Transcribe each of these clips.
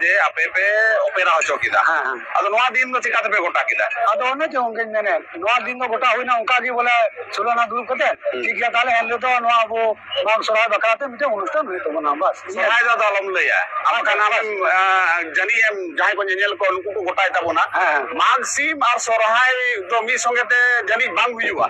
ᱡᱮ ᱟᱯᱮ ᱯᱮ ᱚᱯᱮᱨᱟ ᱦᱚᱪᱚ ᱠᱮᱫᱟ ᱟᱫᱚ ᱱᱚᱣᱟ ᱫᱤᱱ ᱫᱚ ᱪᱤᱠᱟᱹ ᱛᱮᱯᱮ ᱜᱚᱴᱟ ᱠᱮᱫᱟ ᱟᱫᱚ ᱚᱱᱮ ᱪᱚ ᱚᱱᱠᱟᱧ ᱢᱮᱱᱮᱫ ᱱᱚᱣᱟ ᱫᱤᱱ ᱫᱚ ᱜᱚᱴᱟ ᱦᱩᱭᱱᱟ ᱚᱱᱠᱟ ᱜᱮ ᱵᱚᱞᱮ ᱥᱳᱞᱳᱱᱟ ᱫᱩᱲᱩᱵ ᱠᱟᱛᱮ ᱴᱷᱤᱠ ᱜᱮᱭᱟ ᱛᱟᱦᱞᱮ ᱮᱱᱦᱤᱞᱳᱜ ᱫᱚ ᱱᱚᱣᱟ ᱟᱵᱚ ᱢᱟᱜᱽ ᱥᱚᱨᱦᱟᱭ ᱵᱟᱠᱷᱨᱟ ᱛᱮ ᱢᱤᱫᱴᱮᱱ ᱚᱱᱩᱥᱴᱷᱟᱱ ᱦᱩᱭᱩᱜ ᱛᱟᱵᱚᱱᱟ ᱵᱟᱥ ᱥᱚᱨᱦᱟᱭ ᱫᱚ ᱟᱫᱚ ᱟᱞᱚᱢ ᱞᱟᱹᱭᱟ ᱟᱢ ᱠᱷᱟᱱ ᱟᱢᱮᱢ ᱡᱟᱹᱱᱤᱡ ᱮᱢ ᱡᱟᱦᱟᱸᱭ ᱠᱚ ᱧᱮᱧᱮᱞ ᱠᱚ ᱩᱱᱠᱩ ᱠᱚ ᱜᱚᱴᱟᱭ ᱛᱟᱵᱚᱱᱟ ᱢᱟᱜᱽ ᱥᱤᱢ ᱟᱨ ᱥᱚᱨᱦᱟᱭ ᱫᱚ ᱢᱤᱫ ᱥᱚᱸᱜᱮ ᱛᱮ ᱡᱟᱹᱱᱤᱡ ᱵᱟᱝ ᱦᱩᱭᱩᱜᱼᱟ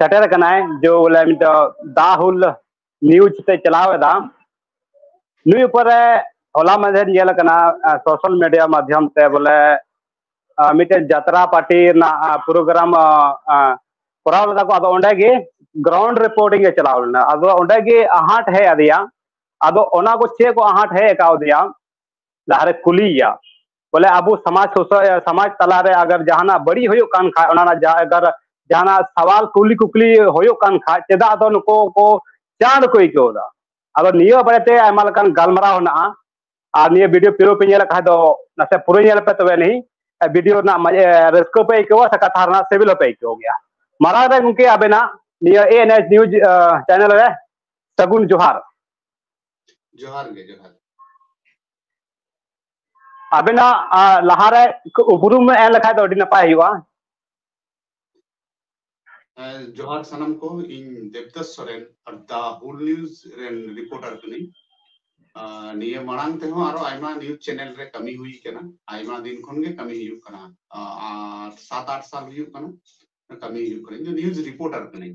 ᱥᱮᱴᱮᱨ ᱟᱠᱟᱱᱟᱭ ᱡᱮ ᱵᱚᱞᱮ ᱱᱤᱛᱚᱜ ᱫᱟ ᱦᱩᱞ ᱱᱤᱭᱩᱡᱽ ᱛᱮ ᱪᱟᱞᱟᱣ ᱮᱫᱟ ᱱᱩᱭ ᱩᱯᱚᱨᱮ ᱦᱚᱞᱟ ᱢᱟᱫᱷᱮᱨ ᱧᱮᱞ ᱟᱠᱟᱱᱟ ᱥᱳᱥᱟᱞ ᱢᱤᱰᱤᱭᱟ ᱢᱟᱫᱽᱫᱷᱚᱢ ᱛᱮ ᱵᱚᱞᱮ ᱢᱤᱫᱴᱮᱱ ᱡᱟᱛᱨᱟ ᱯᱟᱨᱴᱤ ᱨᱮᱱᱟᱜ ᱯᱨᱳᱜᱨᱟᱢ ᱠᱚᱨᱟᱣ ᱞᱮᱫᱟ ᱠᱚ ᱟᱫᱚ ᱚᱸᱰᱮ ᱜᱮ ᱜᱨᱟᱣᱩᱱᱰ ᱨᱤᱯᱳᱨᱴᱤᱝ ᱮ ᱪᱟᱞᱟᱣ ᱞᱮᱱᱟ ᱟᱫᱚ ᱚᱸᱰᱮ ᱜᱮ ᱟᱦᱟᱴ ᱦᱮᱡ ᱟᱫᱮᱭᱟ ᱟᱫᱚ ᱚᱱᱟ ᱠᱚ ᱪᱮᱫ ᱠᱚ ᱟᱦᱟᱴ ᱦᱮᱡ ᱟᱠᱟᱣᱫᱮᱭᱟ ᱞᱟᱦᱟᱨᱮ ᱠᱩᱞᱤᱭᱮᱭᱟ ᱵᱚᱞᱮ ᱟᱵᱚ ᱥᱚᱢᱟᱡᱽ ᱥᱩᱥᱟᱹᱨ ᱥᱚᱢᱟᱡᱽ ᱛᱟᱞᱟᱨᱮ ᱟᱜᱟᱨ ᱡᱟᱦᱟᱱᱟᱜ ᱵᱟᱹᱲᱤᱡ ᱦᱩᱭᱩᱜ ᱠᱟᱱ ᱠᱷᱟᱡ ᱚᱱᱟ ᱨᱮᱱᱟᱜ ᱟᱜᱟᱨ ᱡᱟᱦᱟᱱᱟᱜ ᱥᱟᱣᱟᱞ ᱠᱩᱞᱤ ᱠᱩᱠᱞᱤ ᱦᱩᱭᱩᱜ ᱠᱟᱱ ᱠᱷᱟᱡ ᱪᱮᱫᱟᱜ ᱫᱚ ᱱᱩᱠᱩ ᱠᱚ ᱪᱟᱬ ᱠᱚ ᱟᱹᱭᱠᱟᱹᱣ ᱮᱫᱟ ᱟᱫᱚ ᱱᱤᱭᱟᱹ ᱵᱟᱨᱮᱛᱮ ᱟᱭᱢᱟ ᱞᱮᱠᱟᱱ ᱜᱟᱞᱢᱟᱨᱟᱣ ᱦᱮᱱᱟᱜᱼᱟ ᱟᱨ ᱱᱤᱭᱟᱹ ᱵᱷᱤᱰᱤᱭᱳ ᱯᱩᱨᱟᱹ ᱯᱮ ᱧᱮᱞ ᱠᱷᱟᱡ ᱫᱚ ᱱᱟᱥᱮ ᱯᱩᱨᱟᱹ ᱧᱮᱞ ᱯᱮ ᱛᱚᱵᱮ ᱱᱤ ᱵᱷᱤᱰᱤᱭᱳ ᱨᱮᱱᱟᱜ ᱨᱟᱹᱥᱠᱟᱹ ᱯᱮ ᱟᱹᱭᱠᱟᱹᱣᱟ ᱥᱮ ᱠᱟᱛᱷᱟ ᱨᱮᱱᱟᱜ ᱥᱤᱵᱤᱞ ᱦᱚᱸᱯᱮ ᱟᱹᱭᱠᱟᱹᱣ ᱜᱮᱭᱟ ᱢᱟᱨᱟᱝ ᱨᱮ ᱜᱚᱢᱠᱮ ᱟᱵᱮᱱᱟᱜ ᱱᱤᱭᱟᱹ ᱮ ᱮᱱ ᱮᱥ ᱱᱤᱭᱩᱡᱽ ᱪᱮᱱᱮᱞ ᱨᱮ ᱥᱟᱹᱜᱩᱱ ᱡᱚᱦᱟᱨ ᱡᱚᱦᱟᱨ ᱜᱮ ᱡᱚᱦᱟᱨ ᱟᱵᱮᱱᱟᱜ ᱞᱟᱦᱟᱨᱮ ᱩᱯᱨᱩᱢ ᱮᱢ ᱞᱮᱠᱷᱟᱡ ᱫᱚ ᱟᱹᱰᱤ ᱱᱟᱯᱟᱭ ᱦᱩᱭᱩᱜᱼᱟ ᱡᱚᱦᱟᱨ ᱥᱟᱱᱟᱢ ᱠᱚ ᱤᱧ ᱫᱮᱵᱫᱟᱥ ᱥᱚᱨᱮᱱ ᱟᱨ ᱫᱟ ᱦᱩᱞ ᱱᱤᱭᱩᱡ ᱨᱮᱱ ᱨᱤᱯᱳᱨᱴᱟᱨ ᱠᱟᱹᱱᱟᱹᱧ ᱱᱤᱭᱟᱹ ᱢᱟᱲᱟᱝ ᱛᱮᱦᱚᱸ ᱟᱨᱚ ᱟᱭᱢᱟ ᱱᱤᱭᱩᱡ ᱪᱮᱱᱮᱞ ᱨᱮ ᱠᱟᱹᱢᱤ ᱦᱩᱭ ᱠᱟᱱᱟ ᱟᱭᱢᱟ ᱫᱤᱱ ᱠᱷᱚᱱ ᱜᱮ ᱠᱟᱹᱢᱤ ᱦᱩᱭᱩᱜ ᱠᱟᱱᱟ ᱟᱨ ᱥᱟᱛ ᱟᱴ ᱥᱟᱞ ᱦᱩᱭᱩᱜ ᱠᱟᱱᱟ ᱠᱟᱹᱢᱤ ᱦᱩᱭᱩᱜ ᱠᱟᱱᱟ ᱤᱧ ᱫᱚ ᱱᱤᱭᱩᱡ ᱨᱤᱯᱳᱨᱴᱟᱨ ᱠᱟᱹᱱᱟᱹᱧ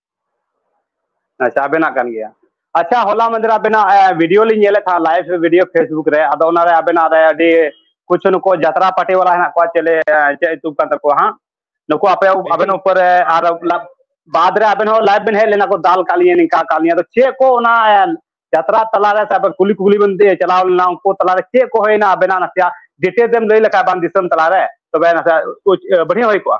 ᱟᱪᱪᱷᱟ ᱟᱵᱮᱱᱟᱜ ᱠᱟᱱ ᱜᱮᱭᱟ ᱟᱪᱪᱷᱟ ᱦᱚᱞᱟ ᱢᱟᱫᱷᱮᱨ ᱟᱵᱮᱱᱟᱜ ᱵᱷᱤᱰᱤᱭᱳ ᱞᱤᱧ ᱧᱮᱞᱮᱫ ᱛᱟᱦᱮᱸᱫ ᱞᱟᱭᱤᱵᱷ ᱵᱷᱤᱰᱤᱭᱳ ᱯᱷᱮᱥᱵᱩᱠ ᱨᱮ ᱟᱫᱚ ᱚᱱᱟᱨᱮ ᱟᱵᱮᱱᱟᱜ ᱨᱮ ᱟᱹᱰᱤ ᱠᱩᱪᱷᱩ ᱱᱩᱠᱩ ᱡᱟᱛᱨᱟ ᱯᱟᱴᱤ ᱵᱟᱞᱟ ᱦᱮᱱᱟᱜ ᱠᱚᱣᱟ ᱪᱮᱞᱮ ᱪᱮᱫ ᱧᱩᱛᱩᱢ ᱠᱟᱱ ᱛᱟᱠᱚᱣᱟ ᱦᱟᱸᱜ ᱱᱩᱠᱩ ᱟᱯᱮ ᱟᱵᱮᱱ ᱩᱯᱚᱨ ᱨᱮ ᱟᱨ ᱵᱟᱫᱽ ᱨᱮ ᱟᱵᱮᱱ ᱦᱚᱸ ᱞᱟᱭᱤᱵᱷ ᱵᱮᱱ ᱦᱮᱡ ᱞᱮᱱᱟ ᱠᱚ ᱫᱟᱞ ᱠᱟᱜ ᱞᱤᱧᱟ ᱱᱤᱝᱠᱟ ᱠᱟᱜ ᱞᱤᱧᱟ ᱟᱫᱚ ᱪᱮᱫ ᱠᱚ ᱚᱱᱟ ᱡᱟᱛᱨᱟ ᱛᱟᱞᱟᱨᱮ ᱥᱮ ᱟᱵᱮᱱ ᱠᱩᱞᱤ ᱠᱩᱞᱤ ᱵᱮᱱ ᱪᱟᱞᱟᱣ ᱞᱮᱱᱟ ᱩᱱᱠᱩ ᱛᱟᱞᱟᱨᱮ ᱪᱮᱫ ᱠᱚ ᱦᱩᱭᱱᱟ ᱟᱵᱮᱱᱟᱜ ᱱᱟᱥᱮᱭᱟᱜ ᱰᱤᱴᱮᱞᱥ ᱮᱢ ᱞᱟᱹᱭ ᱞᱮᱠᱷᱟᱡ ᱵᱟᱝ ᱫᱤᱥᱚᱢ ᱛᱟᱞᱟᱨᱮ ᱛᱚᱵᱮ ᱱᱟᱥᱮᱭᱟᱜ ᱵᱟᱹᱲᱤᱡ ᱦᱩᱭ ᱠᱚᱜᱼᱟ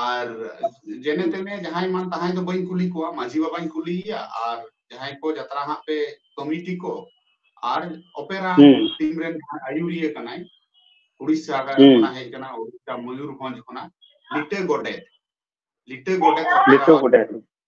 ᱟᱨ ᱡᱮᱱᱮ ᱛᱮᱱᱮ ᱡᱟᱦᱟᱸᱭ ᱢᱟᱱ ᱛᱟᱦᱟᱸᱭ ᱫᱚ ᱵᱟᱹᱧ ᱠᱩᱞᱤ ᱠᱚᱣᱟ ᱢᱟᱹᱡᱷᱤ ᱵᱟᱵᱟᱧ ᱠᱩᱞᱤᱭᱮᱭᱟ ᱟᱨ ᱡᱟᱦᱟᱸᱭ ᱠᱚ ᱡᱟᱛᱨᱟ ᱦᱟᱸᱜ ᱯᱮ ᱠᱚᱢᱤᱴᱤ ᱠᱚ ᱟᱨ ᱚᱯᱮᱨᱟ ᱴᱤᱢ ᱨᱮᱱ ᱡᱟᱦᱟᱸᱭ ᱟᱭᱩᱨᱤᱭᱟᱹ ᱠᱟᱱᱟᱭ ᱩᱲᱤᱥᱥᱟ ᱠᱷᱚᱱᱟᱜ ᱦᱮᱡ ᱠᱟᱱᱟ ᱩᱲᱤᱥᱥᱟ ᱢᱚᱭᱩᱨᱵᱷᱚᱸᱡᱽ ᱠᱷᱚᱱᱟᱜ ᱞᱤᱴᱟᱹ ᱜᱚᱰᱮᱛ ᱞᱤᱴᱟᱹ ᱜᱚᱰᱮᱛ ᱞᱤᱴᱟᱹ ᱜᱚᱰᱮᱛ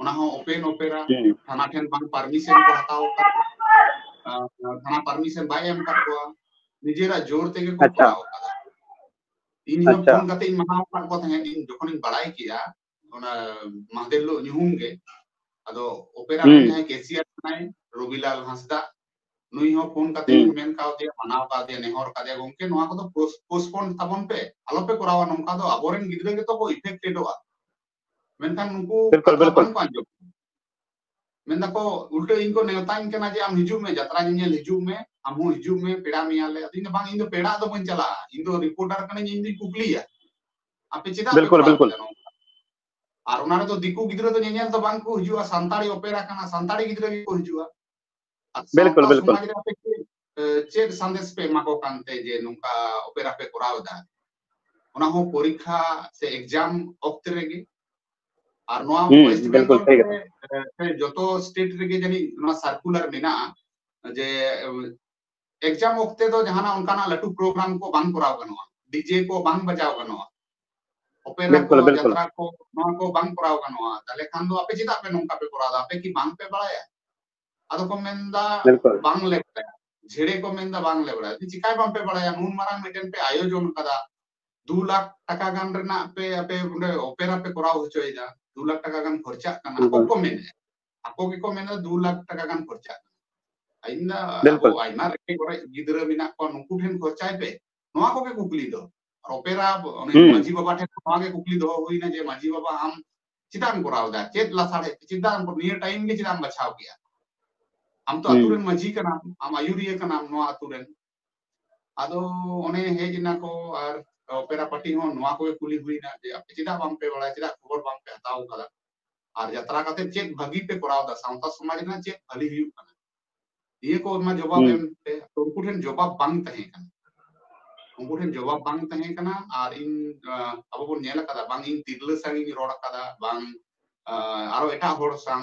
ᱚᱱᱟ ᱦᱚᱸ ᱳᱯᱮᱱ ᱳᱯᱮᱨᱟ ᱛᱷᱟᱱᱟ ᱴᱷᱮᱱ ᱵᱟᱝ ᱯᱟᱨᱢᱤᱥᱚᱱ ᱠᱚ ᱦᱟᱛᱟᱣ ᱟᱠᱟᱫ ᱛᱷᱟᱱᱟ ᱯᱟᱨᱢᱤᱥᱚᱱ ᱵᱟᱭ ᱮᱢ ᱟᱠᱟᱫ ᱠᱚᱣᱟ ᱱᱤᱡᱮᱨᱟᱜ ᱡᱳᱨ ᱛᱮᱜᱮ ᱠᱚ ᱠᱚᱨᱟᱣ ᱟᱠᱟᱫᱟ ᱤᱧ ᱦᱚᱸ ᱯᱷᱳᱱ ᱠᱟᱛᱮ ᱤᱧ ᱢᱟᱱᱟᱣ ᱟᱠᱟᱫ ᱠᱚ ᱛᱟᱦᱮᱸᱫ ᱤᱧ ᱡᱚᱠᱷᱚᱱᱤᱧ ᱵᱟᱲᱟᱭ ᱠᱮᱫᱟ ᱚᱱᱟ ᱢᱟᱦᱫᱮᱨ ᱦᱤᱞᱳᱜ ᱧᱩᱦᱩᱢ ᱜᱮ ᱟᱫᱚ ᱳᱯᱮᱨᱟ ᱨᱮᱱ ᱡᱟᱦᱟᱸᱭ ᱠᱮᱥᱤᱭᱟᱨ ᱠᱟᱱᱟᱭ ᱨᱚᱵᱤᱞᱟᱞ ᱦᱟᱸᱥᱫᱟ ᱱᱩᱭ ᱦᱚᱸ ᱯᱷᱳᱱ ᱠᱟᱛᱮ ᱤᱧ ᱢᱮᱱ ᱠᱟᱣᱫᱮᱭᱟ ᱢᱟᱱᱟᱣ ᱠᱟᱣᱫᱮᱭᱟ ᱱᱮᱦᱚᱨ ᱠᱟᱫᱮᱭᱟ ᱜᱚᱝᱠᱮ ᱱᱚᱣᱟ ᱠᱚᱫᱚ ᱯᱳᱥᱴᱯᱳᱱ ᱛᱟᱵᱚᱱ ᱯᱮ ᱟᱞᱚᱯᱮ ᱠᱚᱨᱟᱣᱟ ᱱᱚᱝᱠᱟ ᱫᱚ ᱟᱵᱚᱨᱮᱱ ᱜᱤᱫᱽᱨᱟᱹ ᱜᱮᱛᱚ ᱠᱚ ᱤᱯᱷᱮᱠᱴᱮᱰᱚᱜᱼᱟ ᱢᱮᱱᱠᱷᱟᱱ ᱱᱩᱠᱩ ᱵᱤᱞᱠᱩᱞ ᱵᱤᱞᱠᱩᱞ ᱵᱟᱝᱠᱚ ᱟᱸᱡᱚᱢ ᱢᱮᱱ ᱫᱟᱠᱚ ᱩᱞᱴᱟᱹ ᱤᱧ ᱠᱚ ᱱᱮᱣᱛᱟᱧ ᱠᱟᱱᱟ ᱡᱮ ᱟᱢ ᱦᱤᱡᱩᱜ ᱢᱮ ᱡᱟᱛᱨᱟ ᱧᱮᱧᱮᱞ ᱦᱤᱡᱩᱜ ᱢᱮ ᱟᱢ ᱦᱚᱸ ᱦᱤᱡᱩᱜ ᱢᱮ ᱯᱮᱲᱟ ᱢᱮᱭᱟᱞᱮ ᱟᱫᱚ ᱤᱧ ᱵᱟᱝ ᱤᱧ ᱫᱚ ᱯᱮᱲᱟ ᱫᱚ ᱵᱟᱹᱧ ᱪᱟᱞᱟᱜᱼᱟ ᱤᱧ ᱫᱚ ᱨᱤᱯᱳᱨᱴᱟᱨ ᱠᱟᱹᱱᱟᱹᱧ ᱤᱧ ᱫᱚᱧ ᱠᱩᱠᱞᱤᱭᱟ ᱟᱯᱮ ᱪᱮᱫᱟᱜ ᱯᱮ ᱵᱤᱞᱠᱩᱞ ᱠᱚᱨᱟᱣ ᱵᱤᱞᱠᱩᱞ ᱠᱮᱫᱟ ᱱᱚᱝᱠᱟ ᱟᱨ ᱚᱱᱟ ᱨᱮᱫᱚ ᱫᱤᱠᱩ ᱜᱤᱫᱽᱨᱟᱹ ᱫᱚ ᱧᱮᱧᱮᱞ ᱫᱚ ᱵᱟᱝ ᱠᱚ ᱦᱤᱡᱩᱜᱼᱟ ᱥᱟᱱᱛᱟᱲᱤ ᱚᱯᱮᱨᱟ ᱠᱟᱱᱟ ᱥᱟᱱᱛᱟᱲᱤ ᱜᱤᱫᱽᱨᱟᱹ ᱜᱮᱠᱚ ᱦᱤᱡᱩᱜᱼᱟ ᱵᱤᱞᱠᱩᱞ ᱵᱤᱞᱠᱩᱞ ᱪᱮᱫ ᱥᱟᱸᱫᱮᱥ ᱯᱮ ᱮᱢᱟ ᱠᱚ ᱠᱟᱱ ᱛᱮ ᱡᱮ ᱱᱚᱝᱠᱟ ᱚᱯᱮᱨᱟ ᱯᱮ ᱠᱚᱨᱟᱣ ᱮᱫᱟ ᱚᱱᱟ ᱦᱚᱸ ᱯᱚᱨᱤᱠᱷᱟ ᱥᱮ ᱮᱠᱡᱟᱢ ᱚᱠᱛᱮ ᱨᱮᱜᱮ ᱟᱨ ᱱᱚᱣᱟ ᱣᱮᱥᱴ ᱵᱮᱝᱜᱚᱞ ᱨᱮ ᱡᱚᱛᱚ ᱥᱴᱮᱴ ᱨᱮᱜᱮ ᱡᱟᱹᱱᱤᱡ ᱱᱚᱣᱟ ᱥᱟᱨᱠᱩᱞᱟᱨ ᱢᱮᱱᱟᱜᱼᱟ ᱡᱮ ᱮᱠᱡᱟᱢ ᱚᱠᱛᱮ ᱫᱚ ᱡᱟᱦᱟᱱᱟᱜ ᱚᱱᱠᱟᱱᱟᱜ ᱞᱟᱹᱴᱩ ᱯᱨᱳᱜᱨᱟᱢ ᱠᱚ ᱵᱟᱝ ᱠᱚᱨᱟᱣ ᱜᱟᱱᱚᱜᱼᱟ ᱰᱤᱡᱮ ᱠᱚ ᱵᱟᱝ ᱵᱟᱡᱟᱣ ᱜᱟᱱᱚᱜᱼᱟ ᱚᱯᱮᱨᱟ ᱠᱚ ᱡᱟᱛᱨᱟ ᱠᱚ ᱱᱚᱣᱟ ᱠᱚ ᱵᱟᱝ ᱠᱚᱨᱟᱣ ᱜᱟᱱᱚᱜᱼᱟ ᱛᱟᱦᱞᱮ ᱠᱷᱟᱱ ᱫᱚ ᱟᱯᱮ ᱪᱮᱫᱟᱜ ᱯᱮ ᱱᱚᱝᱠᱟ ᱯᱮ ᱠᱚᱨᱟᱣ ᱫᱟ ᱟᱯᱮ ᱠᱤ ᱵᱟᱝ ᱯᱮ ᱵᱟᱲᱟᱭᱟ ᱟᱫᱚ ᱠᱚ ᱢᱮᱱᱫᱟ ᱵᱟᱝ ᱞᱮ ᱵᱟᱲᱟᱭᱟ ᱡᱷᱮᱲᱮ ᱠᱚ ᱢᱮᱱᱫᱟ ᱵᱟᱝ ᱞᱮ ᱵᱟᱲᱟᱭᱟ ᱪᱤᱠᱟᱭ ᱵᱟᱝ ᱯᱮ ᱵᱟᱲᱟᱭᱟ ᱱᱩᱱ ᱢᱟᱨᱟᱝ ᱢᱤᱫᱴᱮᱱ ᱯᱮ ᱟᱭᱳᱡᱚᱱ ᱠᱟᱫᱟ ᱫᱩ ᱞᱟᱠᱷ ᱴᱟᱠᱟ ᱜᱟᱱ ᱨᱮᱱᱟᱜ ᱯᱮ ᱟᱯᱮ ᱚᱸᱰᱮ ᱚᱯᱮᱨᱟ ᱯᱮ ᱠᱚᱨᱟᱣ ᱦᱚᱪᱚᱭᱮᱫᱟ ᱫᱩ ᱞᱟᱠᱷ ᱴᱟᱠᱟ ᱜᱟᱱ ᱠᱷᱚᱨᱪᱟᱜ ᱠᱟᱱᱟ ᱟᱠᱚ ᱠᱚ ᱢᱮᱱᱮᱫᱼᱟ ᱟᱠᱚ ᱜᱮᱠᱚ ᱢᱮᱱᱟ ᱫᱩ ᱞᱟᱠᱷ ᱴᱟᱠᱟ ᱜᱟᱱ ᱠᱷᱚᱨᱪᱟᱜ ᱠᱟᱱᱟ ᱤᱧ ᱫᱟ ᱟᱵᱚ ᱟᱭᱢᱟ ᱨᱮᱸᱜᱮᱡ ᱚᱨᱮᱡ ᱜᱤᱫᱽᱨᱟᱹ ᱢᱮᱱᱟᱜ ᱠᱚᱣᱟ ᱱᱩᱠᱩ ᱴᱷᱮᱱ ᱠᱷᱚᱨᱪᱟᱭ ᱯᱮ ᱱᱚᱣᱟ ᱠᱚᱜᱮ ᱠᱩᱠᱞᱤ ᱫᱚ ᱟᱨ ᱚᱯᱮᱨᱟ ᱚᱱᱮ ᱢᱟᱹᱡᱷᱤ ᱵᱟᱵᱟ ᱴᱷᱮᱱ ᱱᱚᱣᱟ ᱜᱮ ᱠᱩᱠᱞᱤ ᱫᱚᱦᱚ ᱦᱩᱭᱱᱟ ᱡᱮ ᱢᱟᱹᱡᱷᱤ ᱵᱟᱵᱟ ᱟᱢ ᱪᱮᱫᱟᱜ ᱮᱢ ᱠᱚᱨᱟᱣ ᱮᱫᱟ ᱪᱮᱫ ᱞᱟᱥᱟᱲᱦᱮᱫ ᱪᱮᱫᱟᱜ ᱮᱢ ᱱᱤᱭᱟᱹ ᱴᱟᱭᱤᱢ ᱜᱮ ᱪᱮᱫᱟᱜ ᱮᱢ ᱵᱟᱪᱷᱟᱣ ᱠᱮᱜᱼᱟ ᱟᱢ ᱛᱚ ᱟᱛᱩ ᱨᱮᱱ ᱢᱟᱹᱡᱷᱤ ᱠᱟᱱᱟᱢ ᱟᱢ ᱟᱭᱩᱨᱤᱭᱟᱹ ᱠᱟᱱᱟᱢ ᱱᱚᱣᱟ ᱟᱛᱩ ᱨᱮᱱ ᱟᱫᱚ ᱚᱱᱮ ᱦᱮᱡ ᱮᱱᱟ ᱠᱚ ᱟᱨ ᱚᱯᱮᱨᱟ ᱯᱟᱨᱴᱤ ᱦᱚᱸ ᱱᱚᱣᱟ ᱠᱚᱜᱮ ᱠᱩᱞᱤ ᱦᱩᱭᱱᱟ ᱡᱮ ᱟᱯᱮ ᱪᱮᱫᱟᱜ ᱵᱟᱝᱯᱮ ᱵᱟᱲᱟᱭᱟ ᱪᱮᱫᱟᱜ ᱠᱷᱚᱵᱚᱨ ᱵᱟᱝᱯᱮ ᱦᱟᱛᱟᱣ ᱠᱟᱫᱟ ᱟᱨ ᱡᱟᱛᱨᱟ ᱠᱟᱛᱮ ᱪᱮᱫ ᱵᱷᱟᱹᱜᱤ ᱯᱮ ᱠᱚᱨᱟᱣ ᱫᱟ ᱥᱟᱶᱛᱟ ᱥᱚᱢᱟᱡᱽ ᱨᱮᱱᱟᱜ ᱪᱮᱫ ᱵᱷᱟᱹᱞᱤ ᱦᱩᱭᱩᱜ ᱠᱟᱱᱟ ᱱᱤᱭᱟᱹ ᱠᱚ ᱚᱱᱟ ᱡᱚᱵᱟᱵ ᱮᱢ ᱯᱮ ᱩᱱᱠᱩ ᱴᱷᱮᱱ ᱡᱚᱵᱟᱵ ᱵᱟᱝ ᱛᱟᱦᱮᱸ ᱠᱟᱱᱟ ᱩᱱᱠᱩ ᱴᱷᱮᱱ ᱡᱚᱵᱟᱵ ᱵᱟᱝ ᱛᱟᱦᱮᱸ ᱠᱟᱱᱟ ᱟᱨ ᱤᱧ ᱟᱵᱚ ᱵᱚᱱ ᱧᱮᱞ ᱟᱠᱟᱫᱟ ᱵᱟᱝ ᱤᱧ ᱛᱤᱨᱞᱟᱹ ᱥᱟᱝ ᱤᱧ ᱨᱚᱲ ᱟᱠᱟᱫᱟ ᱵᱟᱝ ᱟᱨᱚ ᱮᱴᱟᱜ ᱦᱚᱲ ᱥᱟᱝ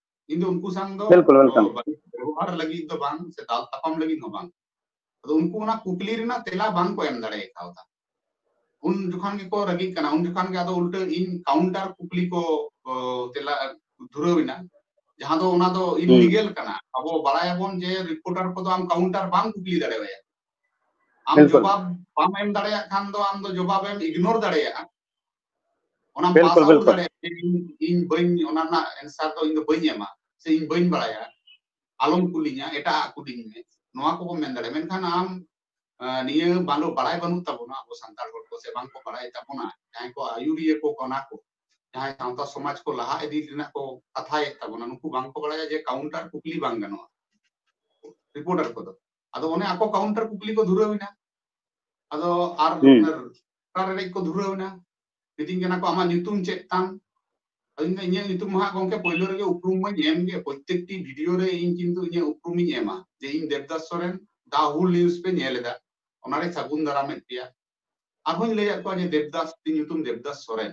ᱤᱧ ᱫᱚ ᱩᱱᱠᱩ ᱥᱟᱝ ᱫᱚ ᱵᱤᱞᱠᱩᱞ ᱵᱤᱞᱠᱩᱞ ᱵᱮᱵᱚᱦᱟᱨ ᱞᱟᱹᱜᱤᱫ ᱫᱚ ᱵᱟᱝ ᱥᱮ ᱫᱟᱞ ᱛᱟᱯᱟᱢ ᱞᱟᱹᱜᱤᱫ ᱦᱚᱸ ᱵᱟᱝ ᱟᱫᱚ ᱩᱱᱠᱩ ᱚᱱᱟ ᱠᱩᱠᱞᱤ ᱨᱮᱱᱟᱜ ᱛᱮᱞᱟ ᱵᱟᱝ ᱠᱚ ᱮᱢ ᱫᱟᱲᱮ ᱠᱟᱣᱫᱟ ᱩᱱ ᱡᱚᱠᱷᱚᱱ ᱜᱮᱠᱚ ᱨᱟᱹᱜᱤᱜ ᱠᱟᱱᱟ ᱩᱱ ᱡᱚᱠᱷᱚᱱ ᱜᱮ ᱟᱫᱚ ᱩᱞᱴᱟᱹ ᱤᱧ ᱠᱟᱣᱩᱱᱴᱟᱨ ᱠᱩᱠᱞᱤ ᱠᱚ ᱛᱮᱞᱟ ᱫᱷᱩᱨᱟᱹᱣ ᱮᱱᱟ ᱡᱟᱦᱟᱸ ᱫᱚ ᱚᱱᱟ ᱫᱚ ᱤᱞᱤᱜᱮᱞ ᱠᱟᱱᱟ ᱟᱵᱚ ᱵᱟᱲᱟᱭᱟᱵᱚᱱ ᱡᱮ ᱨᱤᱯᱳᱨᱴᱟᱨ ᱠᱚᱫᱚ ᱟᱢ ᱠᱟᱣᱩᱱᱴᱟᱨ ᱵᱟᱢ ᱠᱩᱠᱞᱤ ᱫᱟᱲᱮᱣᱟᱭᱟ ᱟᱢ ᱡᱚᱵᱟᱵ ᱵᱟᱢ ᱮᱢ ᱫᱟᱲᱮᱭᱟᱜ ᱠᱷᱟᱱ ᱫᱚ ᱟᱢ ᱫᱚ ᱡᱚᱵᱟᱵ ᱮᱢ ᱤᱜᱱᱳᱨ ᱫᱟᱲᱮᱭᱟᱜᱼᱟ ᱚᱱᱟ ᱯᱟᱥ ᱟᱣᱩᱴ ᱫᱟᱲᱮᱭᱟᱜᱼᱟ ᱤᱧ ᱤᱧ ᱵᱟᱹᱧ ᱚᱱᱟ ᱨᱮᱱᱟᱜ ᱮᱱᱥᱟᱨ ᱫᱚ ᱤᱧ ᱫᱚ ᱵᱟᱹᱧ ᱮᱢᱟ ᱥᱮ ᱤᱧ ᱵᱟᱹᱧ ᱵᱟᱲᱟᱭᱟ ᱟᱞᱚᱢ ᱠᱩᱞᱤᱧᱟ ᱮᱴᱟᱜ ᱠᱩᱞᱤᱧ ᱢᱮ ᱱᱚᱣᱟ ᱠᱚᱵᱚ ᱢᱮᱱ ᱫᱟᱲᱮᱭᱟᱜᱼᱟ ᱢᱮᱱᱠᱷᱟᱱ ᱟᱢ ᱱᱤᱭᱟᱹ ᱵᱟᱝ ᱵᱟᱲᱟᱭ ᱵᱟᱹᱱᱩᱜ ᱛᱟᱵᱚᱱᱟ ᱟᱵᱚ ᱥᱟᱱᱛᱟᱲ ᱦᱚᱲ ᱠᱚ ᱥᱮ ᱵᱟᱝ ᱠᱚ ᱵᱟᱲᱟᱭ ᱛᱟᱵᱚᱱᱟ ᱡᱟᱦᱟᱸᱭ ᱠᱚ ᱟᱭᱩᱨᱤᱭᱟᱹ ᱠᱚ ᱠᱟᱱᱟ ᱠᱚ ᱡᱟᱦᱟᱸᱭ ᱥᱟᱶᱛᱟ ᱥᱚᱢᱟᱡᱽ ᱠᱚ ᱞᱟᱦᱟ ᱤᱫᱤ ᱨᱮᱱᱟᱜ ᱠᱚ ᱠᱟᱛᱷᱟᱭᱮᱫ ᱛᱟᱵᱚᱱᱟ ᱱᱩᱠᱩ ᱵᱟᱝ ᱠᱚ ᱵᱟᱲᱟᱭᱟ ᱡᱮ ᱠᱟᱣᱩᱱᱴᱟᱨ ᱠᱩᱠᱞᱤ ᱵᱟᱝ ᱜᱟᱱᱚᱜᱼᱟ ᱨᱤᱯᱳর্টার ᱠᱚᱫᱚ ᱟᱫᱚ ᱚᱱᱮ ᱟᱠᱚ ᱠᱟᱣᱩᱱᱴᱟᱨ ᱠᱩᱠᱞᱤ ᱠᱚ ᱫᱷᱩᱨᱟᱹᱣ ᱮᱱᱟ ᱟᱫᱚ ᱟᱨ ᱨᱟᱲ ᱨᱮᱰᱮᱡ ᱠᱚ ᱫᱷᱩᱨᱟᱹᱣ ᱮᱱᱟ ᱢᱤᱛᱟᱹᱧ ᱠᱟᱱᱟ ᱠᱚ ᱟᱢᱟᱜ ᱧᱩᱛᱩᱢ ᱪᱮᱫ ᱛᱟᱢ ᱟᱫᱚᱧ ᱢᱮᱱᱫᱟ ᱤᱧᱟᱹᱜ ᱧᱩᱛᱩᱢ ᱢᱟ ᱜᱚᱝᱠᱮ ᱯᱳᱭᱞᱳ ᱨᱮᱜᱮ ᱩᱯᱨᱩᱢ ᱢᱟᱹᱧ ᱮᱢ ᱜᱮ ᱯᱨᱚᱛᱮᱠᱴᱤ ᱵᱷᱤᱰᱤᱭᱳ ᱨᱮ ᱤᱧ ᱠᱤᱱᱛᱩ ᱤᱧᱟᱹᱜ ᱩᱯᱨᱩᱢᱤᱧ ᱮᱢᱟ ᱡᱮ ᱤᱧ ᱫᱮᱵᱫᱟᱥ ᱥᱚᱨᱮᱱ ᱫᱟ ᱦᱩᱞ ᱱᱤᱭᱩᱡᱽ ᱯᱮ ᱧᱮᱞ ᱮᱫᱟ ᱚᱱᱟᱨᱮ ᱥᱟᱹᱜᱩᱱ ᱫᱟᱨᱟᱢᱮᱫ ᱯᱮᱭᱟ ᱟᱨᱦᱚᱸᱧ ᱞᱟᱹᱭᱟᱫ ᱠᱚᱣᱟ ᱡᱮ ᱫᱮᱵᱫᱟᱥ ᱤᱧ ᱧᱩᱛᱩᱢ ᱫᱮᱵᱫᱟᱥ ᱥᱚᱨᱮᱱ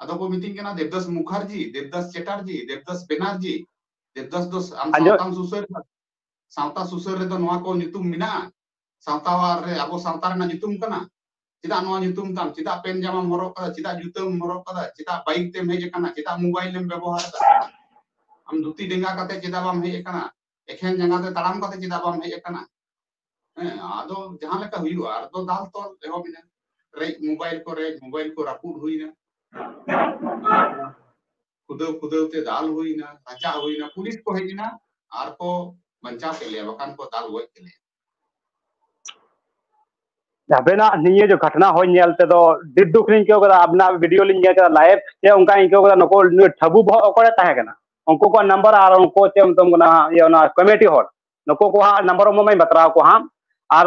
ᱟᱫᱚ ᱠᱚ ᱢᱤᱛᱟᱹᱧ ᱠᱟᱱᱟ ᱫᱮᱵᱫᱟᱥ ᱢᱩᱠᱷᱟᱨᱡᱤ ᱫᱮᱵᱫᱟᱥ ᱪᱮᱴᱟᱨᱡᱤ ᱫᱮᱵᱫᱟᱥ ᱵᱮᱱᱟᱨᱡᱤ ᱫᱮᱵᱫᱟᱥ ᱫᱚ ᱟᱢ ᱥᱟᱶᱛᱟᱢ ᱥᱩᱥᱟᱹᱨ ᱥᱟᱶᱛᱟ ᱥᱩᱥᱟᱹᱨ ᱨᱮᱫᱚ ᱱᱚᱣᱟ ᱠᱚ ᱧᱩᱛᱩᱢ ᱢᱮᱱᱟᱜᱼᱟ ᱥᱟᱶᱛᱟᱣᱟᱨ ᱨᱮ ᱟᱵᱚ ᱥᱟᱶᱛᱟ ᱨᱮᱱᱟᱜ ᱧᱩᱛᱩᱢ ᱠᱟᱱᱟ ᱪᱮᱫᱟᱜ ᱱᱚᱣᱟ ᱧᱩᱛᱩᱢ ᱛᱟᱢ ᱪᱮᱫᱟᱜ ᱯᱮᱱ ᱡᱟᱢᱟᱢ ᱦᱚᱨᱚᱜ ᱠᱟᱫᱟ ᱪᱮᱫᱟᱜ ᱡᱩᱛᱟᱹᱢ ᱦᱚᱨᱚᱜ ᱠᱟᱫᱟ ᱪᱮᱫᱟᱜ ᱵᱟᱭᱤᱠ ᱛᱮᱢ ᱦᱮᱡ ᱟᱠᱟᱱᱟ ᱪᱮᱫᱟᱜ ᱢᱳᱵᱟᱭᱤᱞ ᱮᱢ ᱵᱮᱵᱚᱦᱟᱨ ᱫᱟ ᱟᱢ ᱫᱷᱩᱛᱤ ᱰᱮᱸᱜᱟ ᱠᱟᱛᱮ ᱪᱮᱫᱟᱜ ᱵᱟᱢ ᱦᱮᱡ ᱟᱠᱟᱱᱟ ᱮᱠᱷᱮᱱ ᱡᱟᱸᱜᱟ ᱛᱮ ᱛᱟᱲᱟᱢ ᱠᱟᱛᱮ ᱪᱮᱫᱟᱜ ᱵᱟᱢ ᱦᱮᱡ ᱟᱠᱟᱱᱟ ᱦᱮᱸ ᱟᱫᱚ ᱡᱟᱦᱟᱸ ᱞᱮᱠᱟ ᱦᱩᱭᱩᱜᱼᱟ ᱟᱨ ᱫᱚ ᱫᱟᱞ ᱛᱚᱞ ᱮᱦᱚᱵ ᱮᱱᱟ ᱨᱮᱡ ᱢᱳᱵᱟᱭᱤᱞ ᱠᱚ ᱨᱮᱡ ᱢᱳᱵᱟᱭᱤᱞ ᱠᱚ ᱨᱟᱹᱯᱩᱫ ᱦᱩᱭᱱᱟ ᱠᱷᱩᱫᱟᱹᱣ ᱠᱷᱩᱫᱟᱹᱣ ᱛᱮ ᱫᱟᱞ ᱦᱩᱭᱱᱟ ᱨᱟᱪᱟ ᱦᱩᱭᱱᱟ ᱯᱩᱞᱤᱥ ᱠᱚ ᱦᱮᱡ ᱮᱱᱟ ᱟᱨ ᱠᱚ ᱵᱟᱧᱪᱟᱣ ᱠᱮᱫ ᱞᱮᱭᱟ ᱵᱟᱠᱷᱟᱱ ᱠᱚ ᱫᱟᱞ ᱜᱚᱡ ᱠᱮᱫ ᱞᱮᱭᱟ ᱟᱵᱮᱱᱟᱜ ᱱᱤᱭᱟᱹ ᱡᱮ ᱜᱷᱚᱴᱱᱟ ᱦᱚᱸ ᱧᱮᱞ ᱛᱮᱫᱚ ᱟᱹᱰᱤ ᱫᱩᱠ ᱞᱤᱧ ᱟᱹᱭᱠᱟᱹᱣ ᱠᱮᱫᱟ ᱟᱵᱮᱱᱟᱜ ᱵᱷᱤᱰᱤᱭᱳ ᱞᱤᱧ ᱧᱮᱞ ᱠᱮᱫᱟ ᱞᱟᱭᱤᱵᱷ ᱥᱮ ᱚᱱᱠᱟ ᱟᱹᱭᱠᱟᱹᱣ ᱠᱮᱫᱟ ᱱᱩᱠᱩ ᱱᱩᱭ ᱴᱷᱟᱹᱵᱩ ᱵᱚᱦᱚᱜ ᱚᱠᱚᱭᱮ ᱛᱟᱦᱮᱸ ᱠᱟᱱᱟ ᱩᱱᱠᱩ ᱠᱚᱣᱟᱜ ᱱᱟᱢᱵᱟᱨ ᱟᱨ ᱩᱱᱠᱩ ᱪᱮᱫ ᱮᱢ ᱢᱮᱛᱟᱢ ᱠᱟᱱᱟ ᱤᱭᱟᱹ ᱚᱱᱟ ᱠᱚᱢᱤᱴᱤ ᱦᱚᱲ ᱱᱩᱠᱩ ᱠᱚᱣᱟᱜ ᱱᱟᱢᱵᱟᱨ ᱚᱢᱚᱜ ᱢᱟᱹᱧ ᱵᱟᱛᱨᱟᱣ ᱠᱚᱣᱟ ᱦᱟᱸᱜ ᱟᱨ